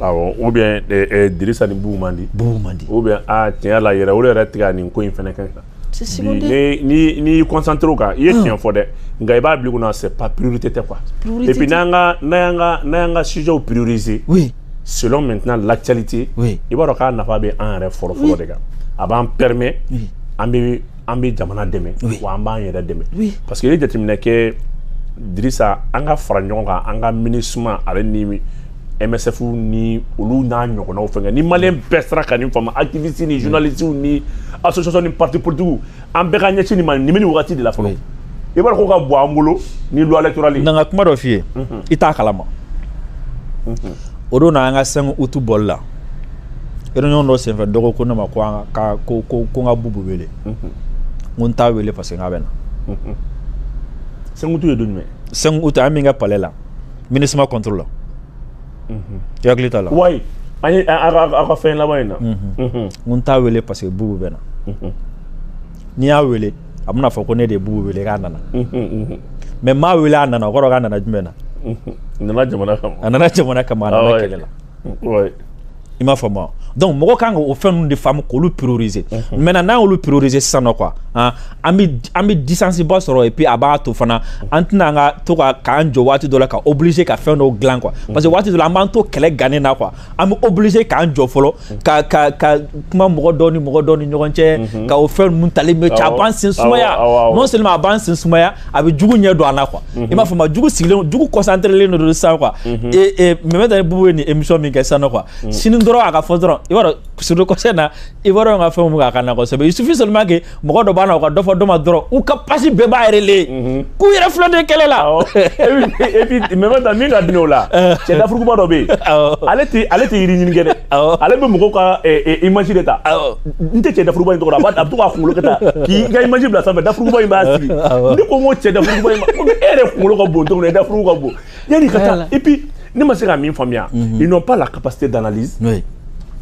awɔ ou bien eh, eh, dirisa ni bubu man di bubu man di ou bien a tiɲɛ la yɛrɛ olu yɛrɛ tɛ ka nin ko in fana kɛ kan n'i y'i concentrer o kan i ye tiɲɛ fɔ dɛ nka i b'a bila kunna c'est pas priorité tɛ quoi et puis n'an ka n'an ka n'an ka sujets prioriser oui selon maintenant l'actualité oui i b'a dɔn k'a nafa bɛ an yɛrɛ fɔlɔ fɔlɔ de kan a b'an permet an bɛ an bɛ jamana dɛmɛ oui. wa an b'an yɛrɛ dɛmɛ oui. parce que i ye jateminɛ kɛ dirisa an ka fara ɲɔgɔn kan an ka minusma ale ni msf ni olu n'a ɲɔgɔnnaw fɛnkɛ ni maliyɛn mm. bɛɛ sera ka nin faamu activiste ni mm. journaliste ni association ni parti politique an bɛɛ ka ɲɛsin nin ma nin bɛ nin wagati de la fɔlɔ i b'a dɔn ko ka bɔ an bolo ni loi électorale ye. n ka kuma dɔ f'i ye mhm. i t'a kalama mhm. o don na an ka cinq août bɔli la réunion dɔ senfɛ dɔgɔ ko ne ma ko ka ko ko n ka bubu wele n t'a wele parce que n k'a bɛ na cinq août ye don cinq août an min kɛ palais la MINUSMA contre la hakili t'a la wa an ye an ka fɛn laban in na n t'a wele parce que bubu bɛ na n'i y'a wele a bɛna fɔ ko ne de ye bubu wele k'a nana mais n m'a wele a nana o kɔrɔ k'a nana jumɛn na a nana jamana kama a nana kɛlɛ la i m'a faamu donc mɔgɔ kan ka o fɛn ninnu de faamu k'olu prioriser maintenant n'an y'olu prioriser sisan nɔ quoi an bɛ an bɛ distance ba sɔrɔ et puis a b'a to fana an tɛna an ka to ka k'an jɔ waati dɔ la ka obliger ka fɛn dɔw dilan quoi parce que waati dɔ la an b'an to kɛlɛ gannen na quoi an bɛ obligé k'an jɔ fɔlɔ ka ka ka kuma mɔgɔ dɔ ni mɔgɔ dɔ ni ɲɔgɔn cɛ ka o fɛn ninnu tali mais cɛ a b'an sen sumaya non seulement a b'an sen sumaya a bɛ jugu ɲɛ don an na quoi mhm. i m'a faamu jugu sigilen jugu concentré len don sisan quoi mhm. et et Meminta ni Bubu ye nin émission min kɛ sisan nɔ quoi mhm. sini dɔrɔn a ka fɔ dɔrɔn i b'a dɔn sur le conseil na i b'a dɔn ka fɛnw bɛ k'a ka na kosɛbɛ il suffit seulement que mɔgɔ dɔ b'a na o ka dɔ fɔ dɔ ma dɔrɔn u ka page bɛɛ b'a yɛrɛ le k'u yɛrɛ filɛ de kɛlɛ la et puis Meminta min ka di o la euh. cɛ dafurukuba dɔ bɛ yen ale tɛ ale tɛ yiri ɲini kɛ dɛ ale bɛ mɔgɔw ka image de ta. n tɛ cɛ dafurukuba in tɔgɔ dɔn a bɛ to k'a kunkolo kɛ tan k'i ka image bila sanfɛ dafurukuba in b'a sigi ne ko n ko cɛ dafurukuba in ma ko e yɛrɛ kunkolo ka bon cogo min na dafuruku ka bon yanni ka taa et puis ne ma se ka min faamuya mhm. ils n'ont pas la capacité d'analyse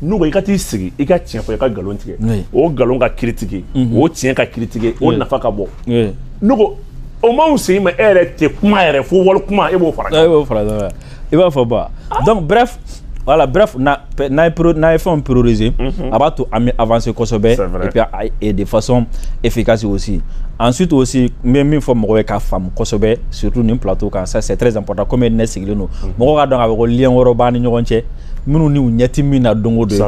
n'u ko i ka t'i sigi i ka tiɲɛ fɔ i ka nkalon tigɛ o nkalon ka kiri tigɛ mhm. o tiɲɛ ka kiri tigɛ o nafa ka bon ne ko o m'anw sen ma e yɛrɛ tɛ kuma yɛrɛ fɔ wali kuma e b'o fara ɲɔgɔn kan i b'a fɔ ba donc bref voilà bref n'an n'an ye fɛnw prioriser mhm. a b'a to an bɛ avancer kosɛbɛ et puis et de façon efficace aussi ensuite aussi n bɛ min fɔ mɔgɔw ye k'a faamu kosɛbɛ surtout nin plateau kan ça c'est très important comme ne sigilen don mhm. mɔgɔw k'a dɔn k'a fɔ ko lien wɛrɛw b'an ni ɲɔgɔn cɛ minnu n'u ɲɛ ti min na don o don ye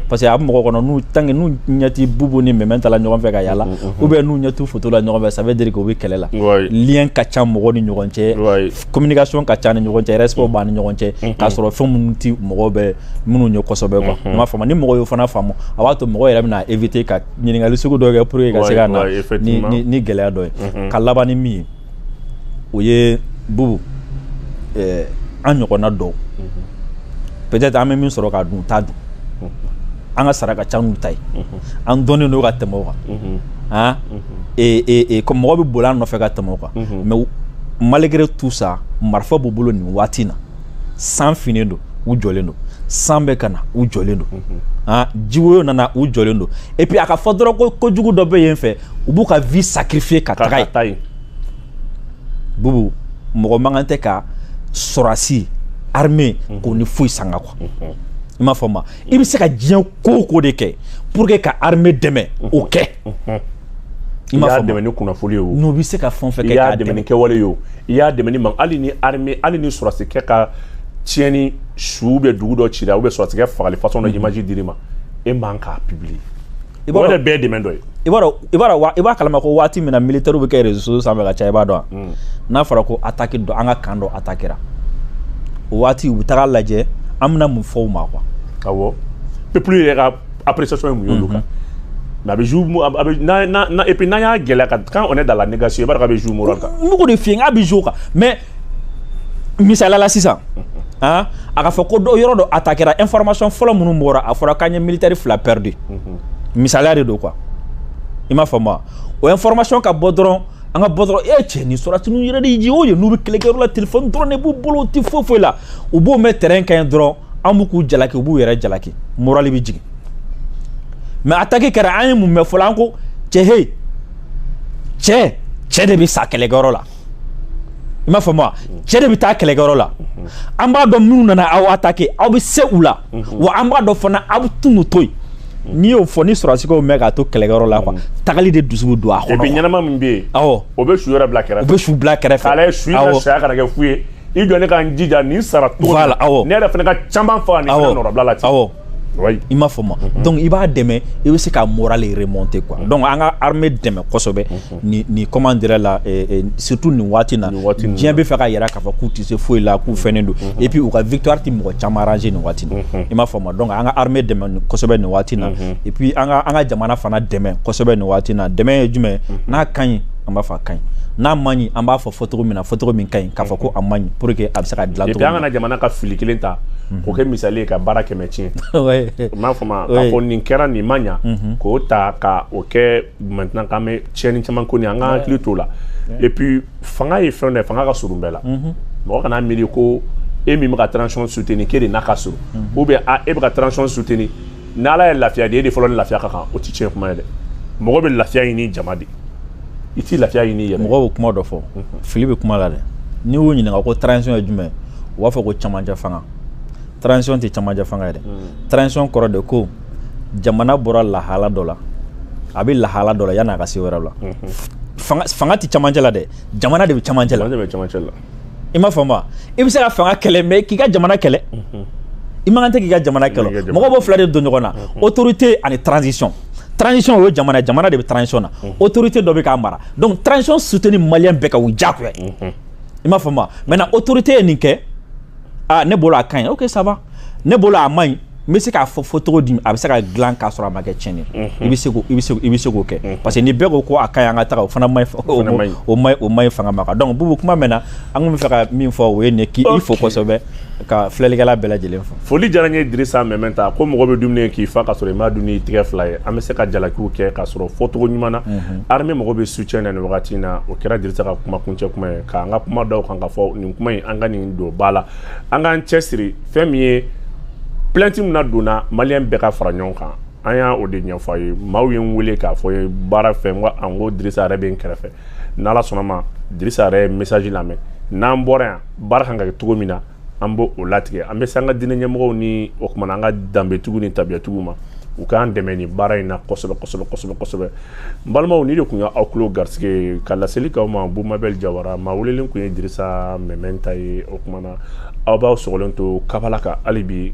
parce que a bɛ mɔgɔw kɔnɔ n'u tant que n'u ɲɛ ti bubu ni Meminta la ɲɔgɔn fɛ ka yala mhm, ou bien n'u ɲɛ ti photo la ɲɔgɔn fɛ ça veut dire que u bɛ kɛlɛ la lien ka ca mɔgɔw ni ɲɔgɔn cɛ communication ka ca an ni ɲɔgɔn cɛ respect b'an ni ɲɔgɔn cɛ k'a sɔrɔ fɛn minnu ti mɔgɔw bɛ minnu ɲɛ kosɛbɛ quoi i m'a faamu ni mɔgɔ y'o fana faamu a b'a to mɔgɔ yɛrɛ bɛna éviter ka ɲininkali sugu dɔw kɛ pour que ka se ka na ni ni ni gɛlɛya dɔ ye ka laban ni min ye o ye bubu ɛɛ an ɲɔgɔnna dɔw peut-être an bɛ min sɔrɔ k'a dun u t'a dun an ka sara ka ca n'u ta ye. an dɔnnen don ka tɛmɛ o kan han ko mɔgɔ bɛ boli an nɔfɛ ka tɛmɛ o kan mais malgré tout ça marifa b'u bolo nin waati in na san finnen don u jɔlen don san bɛ ka na u jɔlen don han jiwoyo nana u jɔlen don et puis a ka fɔ dɔrɔn ko kojugu dɔ bɛ yen fɛ u b'u ka vie sacrifier ka taga yen bubu mɔgɔ man kan tɛ ka sɔrɔdasi armée k'o ni foyi sanga quoi i m'a faamu wa i bɛ se ka diɲɛ ko o ko de kɛ pour que ka armée dɛmɛ o kɛ i y'a dɛmɛ ni kunnafoni ye o n'o bɛ se ka fɛn o fɛn kɛ i y'a dɛmɛ ni kɛwale ye o i y'a dɛmɛ ni man hali ni armée hali ni sɔrɔdasi kɛ ka tiɲɛni su bɛ dugu dɔ cira ou bien sɔrɔdasi kɛ fagali façon dɔ image dir'i ma e man k'a publier i b'a dɔn o yɛrɛ bɛɛ ye dɛmɛ dɔ ye i b'a dɔn i b'a dɔn i b'a kalama ko waati min na militaire bɛ kɛ réseaux sociaux sanfɛ ka caya i b'a dɔn wa n'a fɔra ko attaque dɔ an ka camp dɔ attaquera o waati u bɛ taga lajɛ an bɛna mun fɔ u ma quoi awɔ peuple yɛrɛ ka appréciation ye mun y'olu kan mais a bɛ jouer mo- a bɛ- a bɛ n'a n'a- n'a- et puis n'an y'a gɛlɛya ka quand on est dans la négation i b'a dɔn k'a bɛ jouer moral kan n bɛ k'o de f'i ye n k'a bɛ jouer o kan mais misali la sisan han a ka fɔ ko dɔ yɔrɔ dɔ attaquera information fɔlɔ minnu bɔra a fɔra k'an ye militaire fila perdu misaliya de don quoi i m'a faamu wa o information ka bɔ dɔrɔn an ka bɔ dɔrɔn e cɛ nin sɔrɔdasi ninnu yɛrɛ de ye o ye n'u bɛ kɛlɛkɛyɔrɔ la telefɔni dɔrɔn de b'u bolo u tɛ foyi foyi la u b'o mɛn terrain kan yen dɔrɔn an bɛ k'u jalaki u b'u yɛrɛ jalaki moral bɛ jigin mais attaque kɛra an ye mun mɛn fɔlɔ an ko cɛ he cɛ cɛ de bɛ sa kɛlɛkɛyɔrɔ la i m'a faamu wa cɛ de bɛ taa kɛlɛkɛyɔrɔ la an b'a dɔn minnu nana aw attaquer aw bɛ se u la wa an b'a dɔn fana aw bɛ tunu to yen n'i y'o fɔ ni sɔrɔdasi k'o mɛn k'a to kɛlɛkɛyɔrɔ la quoi mm. tagali de dusu bɛ don a kɔnɔ. et puis ɲɛnama min bɛ yen. awɔ o bɛ su yɛrɛ bila kɛrɛfɛ. o bɛ su bila kɛrɛfɛ. k'a lajɛ su in ka saya kana kɛ fu ye i jɔ ne ka n jija nin sara cogo la. voilà awɔ ne yɛrɛ fana ka caman faga nin fɛn nɔrɔbila la ten. awɔ Oui. i m'a faamu mm -hmm. donc i b'a dɛmɛ i bɛ se ka moral remonter quoi mm -hmm. donc an ka armée dɛmɛ kosɛbɛ mm -hmm. ni ni comment dirait la eh, eh, surtout nin waati na diɲɛ b'a fɛ k'a yira k'a fɔ k'u tɛ se foyi la k'u fɛnnen don mm -hmm. et puis u ka victoire tɛ mɔgɔ caman arranger nin waati na mm -hmm. i m'a faamu donc an ka armée dɛmɛ kosɛbɛ nin waati na mm -hmm. et puis an ka an ka jamana fana dɛmɛ kosɛbɛ nin waati na dɛmɛ ye jumɛn mm -hmm. n'a ka ɲi an b'a fɔ a ka ɲi n'a man ɲi an b'a fɔ fɔcogo min na fɔcogo min ka ɲi k'a fɔ ko a man ɲi pour que a bɛ se ka dilan cogo min na. an kana jamana ka fili kelen ta k'o kɛ misali ye ka baara kɛmɛ tiɲɛ i m'a faamu wa k'a fɔ nin kɛra nin ma ɲa k'o ta ka o kɛ maintenant k'an bɛ tiɲɛni caman ko nin an ka hakili t'o la et puis fanga ye fɛn dɔ ye fanga ka surun bɛɛ la mɔgɔ kana miiri ko e min bɛ ka transition soutenir k'e de n'a ka surun ou bien a e bɛ ka transition soutenir ni ala ye lafiya di e de fɔlɔ ni lafiya ka kan o tɛ tiɲɛ kuma ye dɛ mɔgɔ bɛ lafiya ɲini jama de i t'i lafiya ɲini yɛrɛ mɔgɔ bɛ kuma dɔ fɔ fili bɛ kuma la dɛ n'i y'u ɲininka ko transition ye jumɛn u b'a fɔ ko camancɛ fanga transition tɛ camancɛ fanga ye dɛ transition kɔrɔ de ko jamana bɔra lahala dɔ la a bɛ lahala dɔ la yanni a ka se wɛrɛ la fanga tɛ camancɛ la dɛ jamana de bɛ camancɛ la i m'a faamu i bɛ se ka fanga kɛlɛ mais k'i ka jamana kɛlɛ i man kan dɛ k'i ka jamana kɛlɛ mɔgɔ b'o fila de don ɲɔgɔn na autorité ani transition transition o ye jamana jamana de bɛ transition na autorité dɔ bɛ k'a mara donc transition soutenir malien bɛɛ ka o diyagoya i m'a faamu maintenant autorité ye nin kɛ ah ne bolo a ka ɲi ok ça va ne bolo a man ɲi n bɛ se k'a fɔ fɔ cogo di a bɛ se ka dilan k'a sɔrɔ a ma kɛ tiɲɛni i bɛ se i bɛ se k'o kɛ parce que ni bɛɛ ko ko a ka ɲi an ka taa o fana ma o ma o man ɲi fanga ma kan donc bubu kuma mɛnna an tun bɛ fɛ ka min fɔ o ye nin k'i fo kosɛbɛ ka filɛlikɛla bɛɛ lajɛlen fo foli diyara n ye Dirisa Mɛmɛnta ko mɔgɔ bɛ dumuni k'i fa ka sɔrɔ i m'a dun n'i tigɛ fila ye an bɛ se ka jalakiw kɛ ka sɔrɔ fɔcogo ɲuman na armée mɔgɔ bɛ soutien na nin wagati in na o kɛra Dirisa ka kuma kuncɛ kuma ye k'an ka kuma da o kan ka fɔ nin kuma in an ka nin don ba la an k'an cɛsiri fɛn min ye plainte min na donna malien bɛɛ ka fara ɲɔgɔn kan an y'o de ɲɛfɔ aw ye maaw ye n weele k'a fɔ ye baara fɛ n ko Dirisa yɛrɛ bɛ n kɛrɛfɛ n'ala sɔnna ma Dirisa yɛrɛ ye message lamɛn n'an bɔra yan baara kan ka kɛ cogo min na an b'o latigɛ an bɛ se an ka diinɛ ɲɛmɔgɔw ni o tuma na an ka danbetigiw ni tabiyatigiw ma u k'an dɛmɛ nin baara in na kosɛbɛ kosɛbɛ kosɛbɛ kosɛbɛ balimaw nin de tun ye aw tulo garisɛgɛ ka laseli k'aw ma bumabɛli jawara maa welelen tun ye Dirisa Mɛmɛnta ye o tuma na na aw b'aw sɔgɔlen to kabala kan hali bi